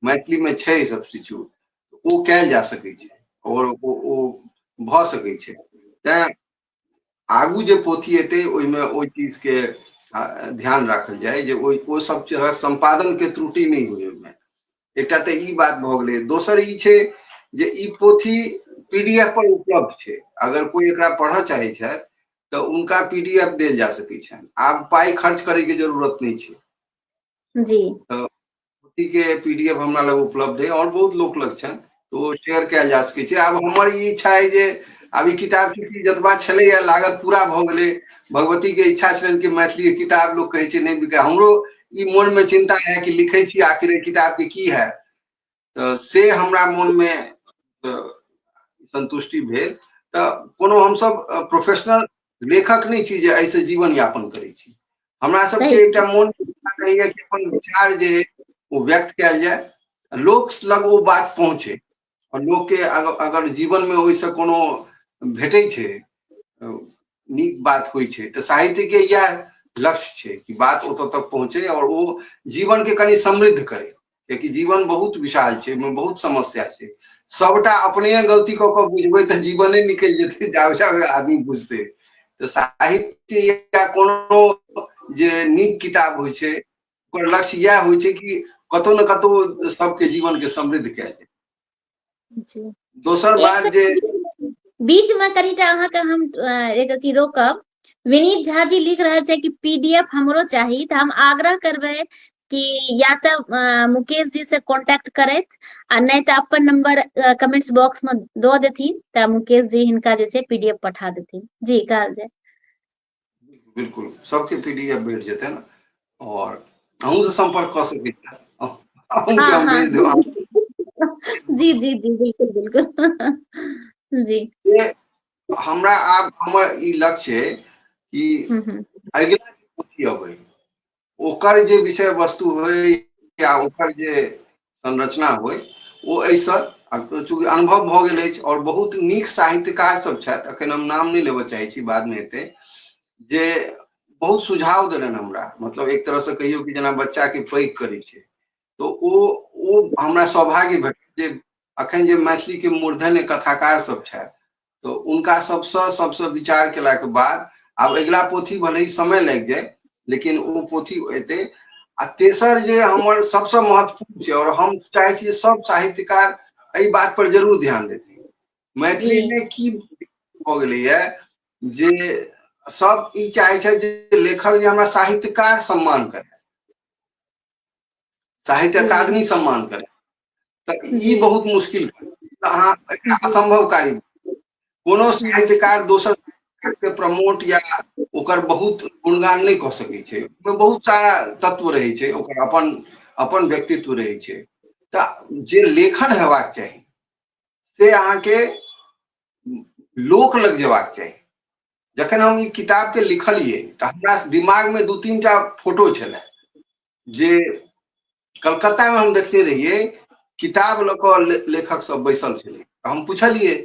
मैथिली में छै सब किछु ओ कयल जा सकै छै और ओ भऽ सकै छै तैं आगू जे पोथी एतै ओहिमे ओहि चीजके ध्यान राखल जाय जे ओहि ओ सब तरह सम्पादनके त्रुटि नहि होइ ओहिमे एकटा तऽ ई बात भऽ गेलै दोसर ई छै जे ई पोथी पी डी एफ पर उपलब्ध छै अगर कोइ एकरा पढ़ऽ चाहै छथि तऽ उनका पी डी एफ देल जा सकै छनि आब पाइ खर्च करैके जरूरत नहि छै जी पोथी के पीडीएफ हमरा लग उपलब्ध है और बहुत लोक लग छन तो ओ शेयर कयल जा सकै छै आब हमर ई इच्छा है जे आब ई किताब चूँकि जतबा छलैए लागत पूरा भऽ गेलै भगवतीके इच्छा छलनि कि मैथिली किताब लोक कहै छै नहि बिकाय हमरो ई मोनमे चिन्ता है कि लिखै छी आखिर किताबके की है तऽ से हमरा मोनमे संतुष्टि भेल तऽ कोनो हमसब प्रोफेशनल लेखक नहि छी जे एहिसँ जीवन यापन करै छी हमरा सही सबके एकटा मोन रहैया कि अपन विचार जे अइ ओ व्यक्त कयल जाय लोक लग ओ बात पहुँचे आओर लोकके अग- अगर जीवनमे ओहिसँ कोनो भेटै छै अ, नीक बात होइ छै तऽ साहित्यके इएह लक्ष्य छै कि बात ओतऽ तक पहुँचे आओर ओ जीवनके कनि समृद्ध करे कियाकि जीवन बहुत विशाल छै ओहिमे बहुत समस्या छै सबटा अपने गलती कऽ कऽ बुझबै तऽ जीवने निकलि जेतै जाबे जाबे आदमी बुझतै तऽ साहित्य या कोनो जे नीक किताब होइ छै ओकर लक्ष्य इएह होइ छै कि कतहु ने कतहु सबके जीवनके समृद्ध कयल जाय जी दोसर एक बात जे सेकंड बीच में कनिटा अहाँके हम अ, एक अथी रोकब विनीत झा जी लिख रहल छै कि पीडीएफ हमरो चाही तऽ हम आग्रह करबै कि या तऽ अ, मुकेश जी से कांटेक्ट करैत आ नहि तऽ अपन नंबर कमेंट्स बॉक्स में दऽ देथिन तऽ मुकेश जी हिनका जे छै पीडीएफ पठा देथिन जी कहल जाय बिल्कुल सबके पीडीएफ भेट जेते ना और अहूँ से संपर्क क सके छी अहूँ के हम भेज देब जी जी जी बिल्कुल बिल्कुल जी हमरा आब हमर ई लक्ष्य है कि अगिला पोथी अबै ओकर जे विषय वस्तु होय या ओकर जे संरचना होय ओ एहिसँ चूँकि अनुभव भऽ गेल अछि आओर बहुत नीक साहित्यकार सब छथि अखन हम नाम नहि लेबऽ चाहै छी बादमे हेतै जे बहुत सुझाव देलनि हमरा मतलब एक तरहसँ कहियौ कि जेना बच्चाके पैघ करै छै तऽ ओ ओ हमरा सौभाग्य भेटल जे अखन जे मैथिलीके मूर्धन्य कथाकार सब छथि तऽ उनका सबसँ सबसँ विचार केलाके बाद आब अगिला पोथी भले समय लागि जाए लेकिन ओ पोथी एतै आ तेसर जे हमर सबसँ महत्वपूर्ण छै आओर हम चाहै छी सब साहित्यकार एहि बात पर जरूर ध्यान देथिन मैथिली में की भऽ गेलैए जे सब ई चाहै छथि जे लेखक जे हमरा साहित्यकार सम्मान करे साहित्य जी अकादमी सम्मान करे तऽ ई जी बहुत मुश्किल तऽ अहाँ एकरा असम्भव कारी कोनो जी साहित्यकार दोसर के प्रमोट या ओकर बहुत गुणगान नहि कऽ सकैत छै ओहिमे बहुत सारा तत्व रहै छै ओकर अपन अपन व्यक्तित्व रहै छै तऽ जे लेखन हेबाक चाही से अहाँके लोक लग जेबाक चाही जखन हम ई किताब के लिखलिए तो हमरा दिमाग में दू तीन टा फोटो छलै जे कलकत्ता में हम देखने रहिए किताब लऽ कऽ ले, लेखक सब बैसल छलै तऽ हम पुछलिए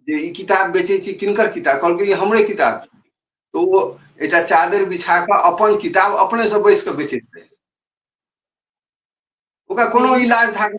जे ई किताब बेचै छी किनकर किताब कहलकै ई हमरे किताब छी तो ओ एकटा चादर बिछा कऽ अपन किताब अपने से बैस कऽ बेचैत रहै ओकरा कोनो इलाज धागा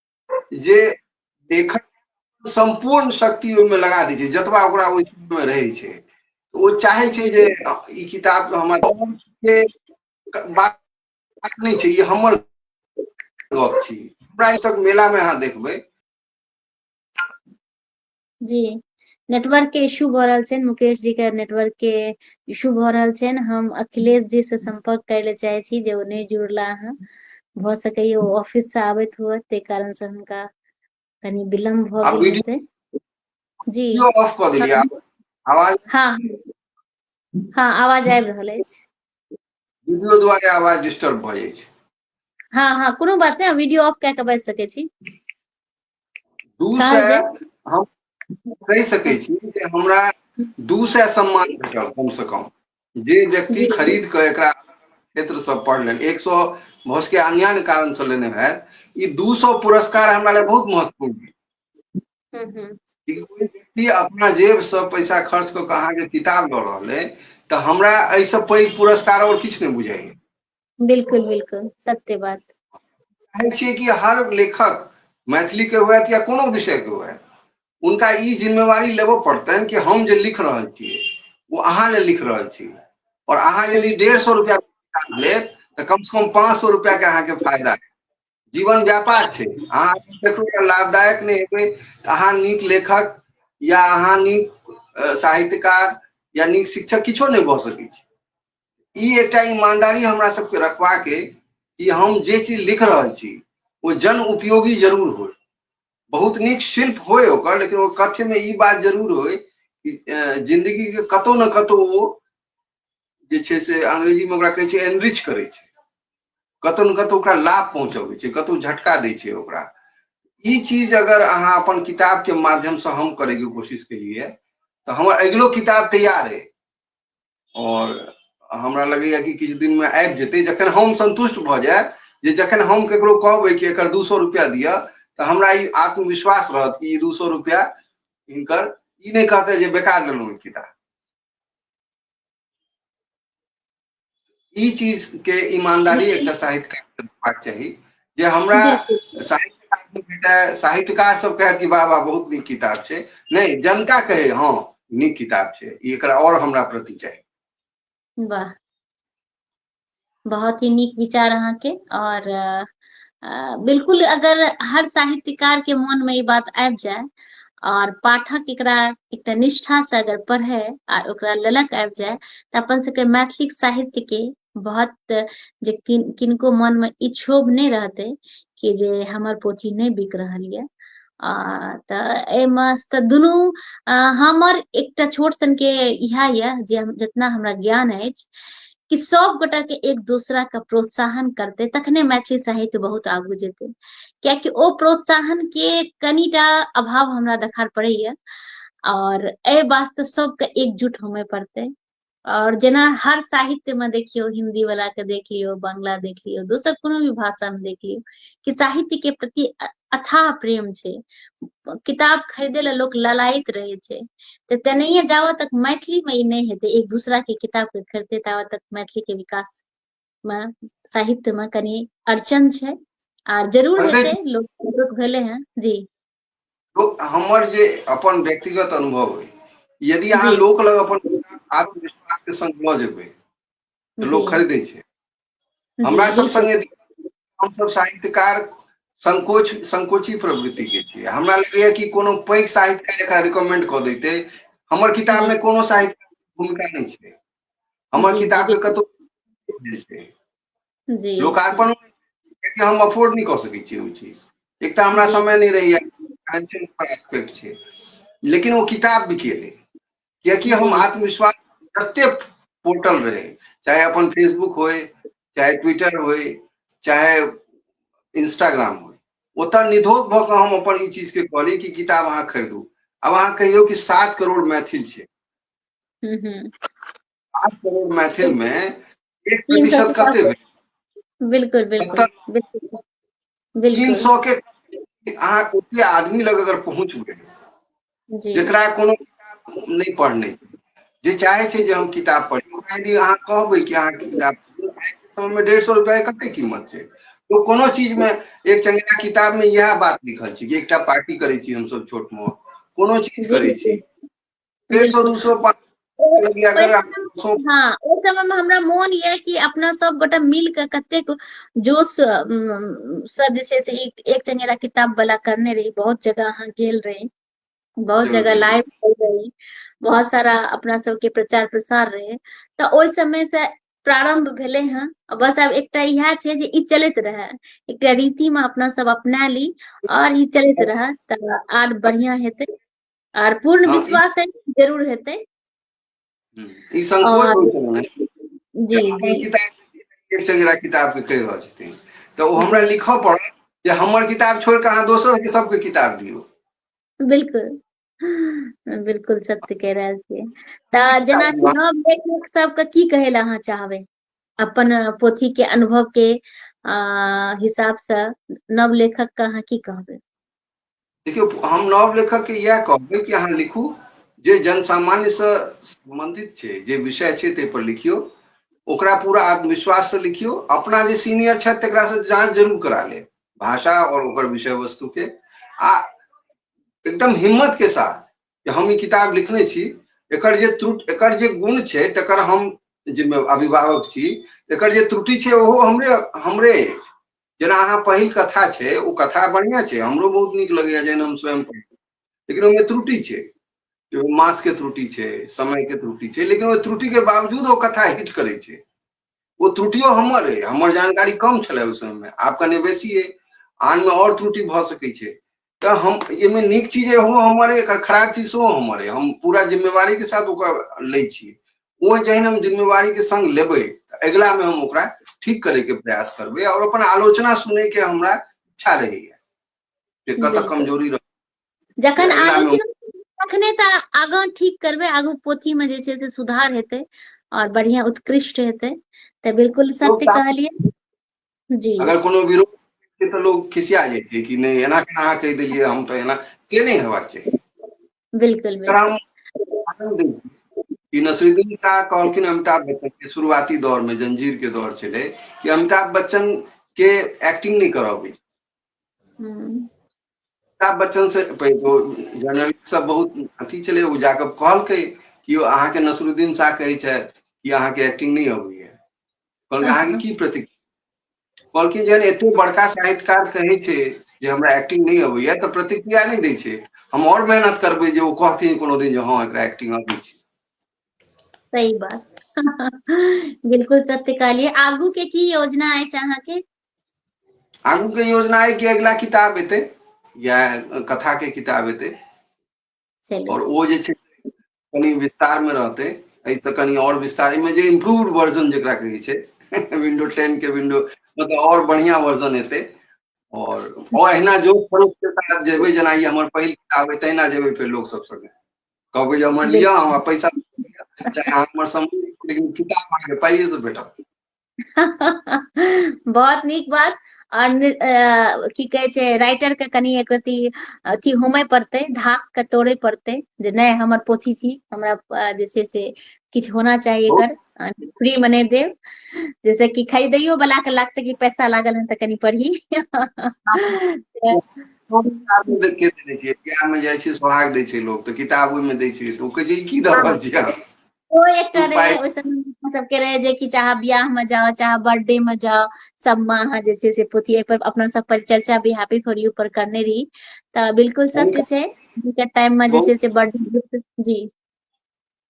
जे देख सम्पूर्ण शक्ति ओहिमे लगा दै छै जतबा ओकरा ओहि चीजमे रहै छै ओ चाहै छै जे ई किताब हमर बात नहि छै ई हमर गप छी हमरा ई तक मेलामे अहाँ देखबै जी नेटवर्क के इशू भऽ रहल छैन मुकेश जी के नेटवर्क के इशू भऽ रहल छैन हम अखिलेश जी से सम्पर्क करे ले चाहे छी जे ओ नहि जुड़ला हँ भऽ सकैये ओ ऑफिस से आबैत हुए ताहि कारण से हुनका कनि विलम्ब भऽ आ गेल वीडियो हेतै जी वीडियो ऑफ कऽ देलियै हँ आब आवाज हँ हँ आवाज आबि रहल अछि वीडियो द्वारे आवाज डिस्टर्ब भऽ जाइ छै हँ हँ कोनो बात नहि वीडियो ऑफ कए कऽ बाजि सकै छी दू सए हम कहि सकै छी जे हमरा दू सए सम्मान भेटल कम से कम जे व्यक्ति खरीद कऽ एकरा क्षेत्र सब पढ़ल एक सौ भऽ सके अन्यान्य कारण से लेने है ई दू सौ पुरस्कार हमरा लिए बहुत महत्वपूर्ण है हम्म, हम्म। कोई व्यक्ति अपना जेब से पैसा खर्च कऽ के अहाँके किताब लऽ रहल है तऽ हमरा एहिसँ पैघ पुरस्कार और किछु नहि बुझाइए बिल्कुल बिल्कुल सत्य बात कहै छियै कि हर लेखक मैथिलीके हुए या कोनो विषयके हुए उनका ई जिम्मेवारी लेबऽ पड़तनि कि हम जे लिख रहल छियै ओ अहाँ ले लिख रहल छी और अहाँ यदि डेढ़ सौ रुपया लेब तऽ कम से कम पाँच सौ रुपया के अहाँके फायदा है जीवन व्यापार छै अहाँ देखू लाभदायक नहि हेबै तऽ अहाँ नीक लेखक या अहाँ नीक साहित्यकार या नीक शिक्षक किछो नहि भऽ सकै छी ई एकटा ईमानदारी हमरा सबके रखबाक अइ कि हम जे चीज लिख रहल छी ओ जन उपयोगी जरूर हो बहुत नीक शिल्प होय ओकर लेकिन ओ कथ्य में ई बात जरूर होय कि अ, जिंदगी के कतौ न कतौ ओ जे छै से अंग्रेजी में ओकरा कहै छै एनरिच करै छै कतौ न कतौ ओकरा लाभ पहुंचबै छै कतौ झटका दै छै ओकरा ई चीज अगर अहाँ अपन किताब के माध्यम से हम करे के कोशिश केलिए तऽ हमर अगिलो किताब तैयार अइ आओर हमरा लगैए कि किछु दिनमे आबि जेतै जखन हम सन्तुष्ट भऽ जायब जे जखन हम ककरो कहबै कि एकर दू सए रुपैआ दिअ तऽ हमरा ई आत्मविश्वास रहत कि ई दू सए रुपैआ हिनकर ई नहि कहतै जे बेकार लेलहुँ किताब ई चीज के ईमानदारी एकटा साहित्यकार होबाक चाही जे हमरा साहित्यकार भेटै साहित्यकार सब कहत कि बाबा बहुत नीक किताब छै नहि जनता कहे हँ नीक किताब छै ई एकरा और हमरा प्रति चाही वाह बहुत ही नीक विचार अहाँके और बिल्कुल अगर हर साहित्यकार के मन में ई बात आबि जाए और पाठक एकरा एकटा निष्ठा से अगर पढ़े आर ओकरा ललक आबि जाए तऽ अपन सबके मैथिली साहित्य के बहुत जे किन किनको मन में ई क्षोभ नहि रहते कि जे हमर पोथी नहि बिक रहल यऽ आ तऽ एहिमे तऽ दुनू हमर एकटा छोट सनके इएह यऽ जे हम जितना हमरा ज्ञान अछि कि सब गोटा के एक दूसरा के प्रोत्साहन करते तखने मैथिली साहित्य बहुत आगू जेते कियाकि ओ प्रोत्साहन के कनिटा अभाव हमरा देखार पड़ैया और ए वास्ते सबके एकजुट होमे पड़ते और जेना हर साहित्य में देखियो हिंदी वाला के देख लियो बांग्ला देख लियो दोसर कोनो भी भाषा में देख लियो कि साहित्य के प्रति अथाह प्रेम छै किताब खरीदे ला लोक ललायत रहे छै तऽ तेनाहिए जाबऽ तक मैथिली में ई नहि हेतै एक दूसरा के किताब के खरीदते ताबऽ तक मैथिली के विकास में साहित्य में कनी अड़चन छै आर जरूर प्रदेश- हेतै लोक जागरूक भेले हैं जी तो हमर जे अपन व्यक्तिगत अनुभव है यदि अहाँ जी। लोक लग अपन आत्मविश्वास के संग लऽ जेबै तऽ जी लोक खरीदै छै जी हमरा सब बिल्कुल संगे हमसब साहित्यकार संकोच संकोची प्रवृति के छियै हमरा लगैया कि कोनो पैघ साहित्य एकरा रिकमेंड कऽ देते हमर किताब जी मे कोनो साहित्य भूमिका नहि छै हमर जी जी किताब के बिल्कुल कतौ जी लोकार्पण कियाकि हम अफोर्ड नहीं कऽ सकै छी ओ चीज एक तऽ हमरा समय नहीं रहैया फाइनेंशियल एस्पेक्ट छै लेकिन ओ किताब बिकेलै कियाकि हम आत्मविश्वास जते पोर्टल रहे चाहे अपन फेसबुक होय चाहे ट्विटर होय चाहे इंस्टाग्राम होय ओतऽ निधोक भऽ कऽ हम अपन ई चीज के कहली कि किताब अहाँ खरीदू अब अहाँ कहियौ कि सात करोड़ मैथिल छै हम्म, हम्म, सात करोड़ मैथिल में एक प्रतिशत कते भेल बिल्कुल बिल्कुल बिल्कुल तीन सौ के अहाँ ओते आदमी लग अगर पहुंच गए जकरा कोनो नहीं पढ़ने जे चाहे छे जे हम किताब पढ़ी ओकरा यदि अहाँ कहबै कि अहाँ किताब समय में डेढ़ सौ रुपया कते कीमत छे तो कोनो चीज में एक चंगेरा किताब में यह बात लिखल छे कि एकटा पार्टी करे छी हम सब छोट मोट कोनो चीज करे छी डेढ़ सौ दू सौ पाँच हाँ ओ समय में हमरा मोन ये कि अपना सब गोटा मिल के कतेक जोश अम, से जे छै से एक एक चंगेरा किताब वाला करने रही बहुत जगह अहाँ गेल रही बहुत जरूर, जगह जरूर। लाइव गेल रही बहुत सारा अपना सबके प्रचार प्रसार रहे तऽ ओहि समय से प्रारंभ भेले हैं बस आब एकटा इएह छै जे ई चलैत रहे एकटा रीति में अपना सब अपना ली और ई चलैत रहे तऽ आर बढ़िया हेतै आर पूर्ण हँ, ई- विश्वास है कि जरूर हेतै हम्म, ई संकोच और- होइ छलनि हेँ। जी अपन जी किताब एक संग किताब के कहि रहल छथिन तऽ ओ हमरा लिखऽ पड़त जे हमर किताब छोड़ कऽ अहाँ दोसर के सबके किताब दियौ बिल्कुल बिल्कुल सत्य कह रहल छियै तऽ जेनाकि हम लेखक सबके की कहै लए अहाँ चाहबै अपन पोथी के अनुभव के हिसाब से नव लेखक के अहाँ की कहबे देखियो हम नव लेखक के यह कहबे कि अहाँ लिखू जे जन सामान्य से संबंधित छे जे विषय छे ते पर लिखियो ओकरा पूरा आत्मविश्वास से लिखियो अपना जे सीनियर छे तकरा से जांच जरूर करा ले भाषा और ओकर विषय वस्तु के आ एकदम हिम्मत के साथ जे हम ई किताब लिखने छी एकर जे त्रुटि एकर जे गुण छै तकर हम जे अभिभावक छी एकर जे त्रुटि छै ओहो हमरे हमरे अछि जेना अहाँ पहिल कथा छै ओ कथा बढ़िया छै हमरो बहुत नीक लगैया जहन हम स्वयं पढ़ै लेकिन ओहिमे त्रुटि छै मास के त्रुटि छै समय के त्रुटि छै लेकिन ओहि त्रुटि के बावजूद ओ कथा हिट करै छै ओ त्रुटियो हमर अइ हमर जानकारी कम छलै ओहि समयमे आब कनि बेसी अइ आनमे आओर त्रुटि भऽ सकै छै तऽ हम एहिमे नीक चीज हो हमर एकर खराब चीज सेहो हमर हम पूरा जिम्मेवारी के साथ ओकर लै छी ओ जहन हम जिम्मेवारी के संग लेबै तऽ अगिला मे हम ओकरा ठीक करे के प्रयास करबै और अपन आलोचना सुने के हमरा इच्छा रहैया जे कतऽ कमजोरी रह जखन तऽ अगिला मे आलोचना तखने तऽ आगाँ ठीक करबै आगू पोथी मे जे छै से सुधार हेतै आओर बढ़िआँ उत्कृष्ट हेतै तऽ बिलकुल लोक सत्य तऽ कहलियै जी अगर कोनो विरोध से तऽ लोग खिसिया जाइ छै कि नहि एना केना अहाँ कहि देलियै हम तऽ एना से नहि हेबाक चाही बिलकुल बिलकुल ई नसरुद्दीन शाह कहलखिन अमिताभ बच्चन के शुरुआती दौर मे जंजीर के दौर छलै कि अमिताभ बच्चन के एक्टिंग नहि करऽ अबै छै हूँ अमिताभ बच्चन से जर्नलिस्ट सब बहुत अथी चले ओ जाके कहलकै कि अहाँ के नसरुद्दीन शाह कहे छे कि अहाँ के एक्टिंग नहीं अबे है कहल अहाँ के की प्रतिक्रिया कहलखिन जहन एते बड़का साहित्यकार कहे छे जे हमरा एक्टिंग नहीं अबे है तो प्रतिक्रिया नहीं दे छे हम और मेहनत करबे जे ओ कहथिन कोनो दिन जे हाँ एक एक्टिंग अबे छे सही बात बिलकुल सत्य कहलियै आगू के की योजना अछि अहाँके आगू के योजना है कि अगला किताब एते या कथा के किताब एते चलिए और वो जे छै कनी विस्तार में रहते ऐसे कनी और विस्तार में जे इम्प्रूव्ड वर्जन जकरा कहै छै विंडो टेन के विंडो मतलब और बढ़िया वर्जन एते और और अहिना जो स्वरूप के साथ जेबै जेना ई हमर पहिल किताब है तहिना जेबै फेर लोग सब संगे कहबै जे हमर लिअ हमरा पैसा चाहे हमर समय लेकिन किताब अहाँके पाइए से भेटत बहुत नीक बात और नि- अ, की कहे छै राइटर के कनि एक रति अथी होमय पड़तै धाक के तोड़े पड़तै जे नहि हमर पोथी छी हमरा अ, जे छै से किछु होना चाही एकर फ्री में नहि देब जैसे कि खरीदैयो वाला के लागतै कि पैसा लागल है तऽ कनि पढ़ी के देने छियै बियाह मे जाइ छै सोहाग दै छै लोक तऽ किताब ओहिमे दै छै ओ कहै छै की दऽ हँ रहल छियै अहाँ ओ एकटा तू रहै पाइ ओहि अपना सबके रहै जे कि चाहे बियाह मे जाउ चाहे बर्थडे मे जाउ सबमे अहाँ जे छै से पोथी अपना सब परिचर्चा भी हैप्पी फॉर यू पर करने रही तऽ बिल्कुल सत्य छै हुनकर टाइम मे जे बहुत छै से बर्थडे गिफ्ट जी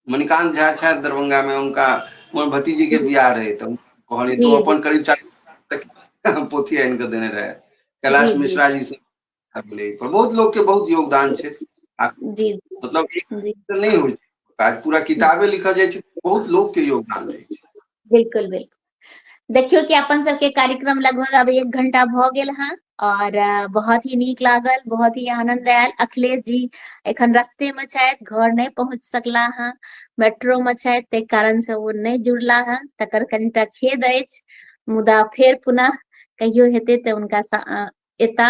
मणिकान्त झा छथि दरभंगा में उनका हमर भतीजी के बियाह रहे तऽ कहलियै तो अपन करीब चालीस पोथी आनि कऽ देने रहे कैलाश मिश्रा जी से पर बहुत लोग के बहुत योगदान छै जी मतलब नहीं हो काज पूरा किताबे लिखल जाए बहुत लोग के योगदान रहे बिल्कुल बिल्कुल देखियो कि अपन सबके कार्यक्रम लगभग अब एक घंटा भ गेल हँ और बहुत ही नीक लागल बहुत ही आनंद आयल अखिलेश जी एखन रस्ते में छथि घर नहीं पहुंच सकला हँ मेट्रो में छथि ताहि कारण से ओ नहीं जुड़ला हँ तकर कनिटा खेद अछि मुदा फेर पुनः कहियो हेतै तऽ उनका एता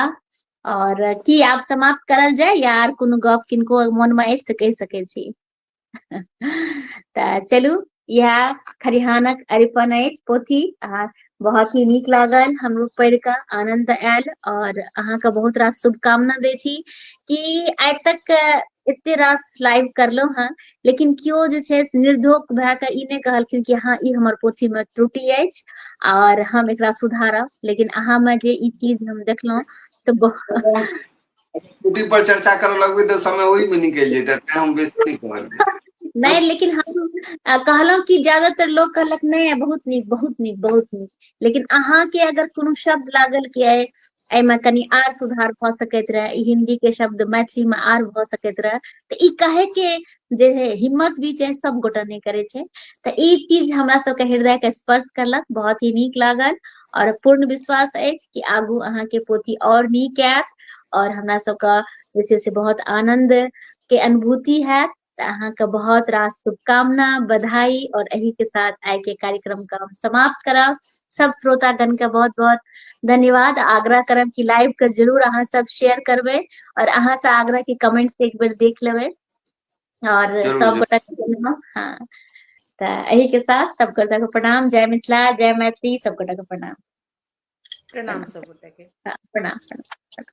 और की आप समाप्त करल जाय या आर कोनो गप किनको मन में अछि तऽ कहि सकै छी तऽ चलू इएह खरिहानक अरिपन अछि पोथी आ बहुत ही नीक लागल हमरो पढ़ि कऽ आनन्द आयल आओर अहाँके बहुत रास शुभकामना दै छी कि आइ तक एते रास लाइव करलहुँ हँ लेकिन केओ जे छै से निर्धोक भए कऽ ई नहि कहलखिन कि हँ ई हमर पोथीमे त्रुटि अछि आओर हम एकरा सुधारब लेकिन अहाँमे जे ई चीज हम देखलहुँ तऽ बहुत स्कूटी पर चर्चा करऽ लगबै तऽ समय ओहि मे निकलि जेतै तें हम बेसी नहि कहलियै नहि लेकिन हम कहलहुँ कि ज्यादातर लोक कहलक नहि बहुत नीक बहुत नीक बहुत नीक लेकिन अहाँके अगर कोनो शब्द लागल कि अइ एहिमे कनि आर सुधार भऽ सकैत रहए ई हिन्दी के शब्द मैथिली मे आर भऽ सकैत रहए तऽ ई कहे के जे हे हिम्मत भी छै सब गोटा नहि करै छै तऽ ई चीज हमरा सबके हृदय के स्पर्श कयलक बहुत ही नीक लागल आओर पूर्ण विश्वास अछि कि आगू अहाँके पोथी आओर नीक आयत आओर हमरा सबके जे छै से बहुत आनंद के अनुभूति हैत तऽ अहाँके बहुत रास शुभकामना बधाई और एही के साथ आय के कार्यक्रम का हम समाप्त करब सब श्रोतागण के बहुत बहुत धन्यवाद आग्रह करब कि लाइव के जरूर अहाँ सब शेयर करबै और अहाँ से आग्रह कि कमेंट्स एक बेर देख लेबै और सब गोटा के हां त एही के साथ सब गोटा के प्रणाम जय मिथिला जय मैथिली सब गोटा के प्रणाम प्रणाम सब गोटा के हाँ, प्रणाम प्रणाम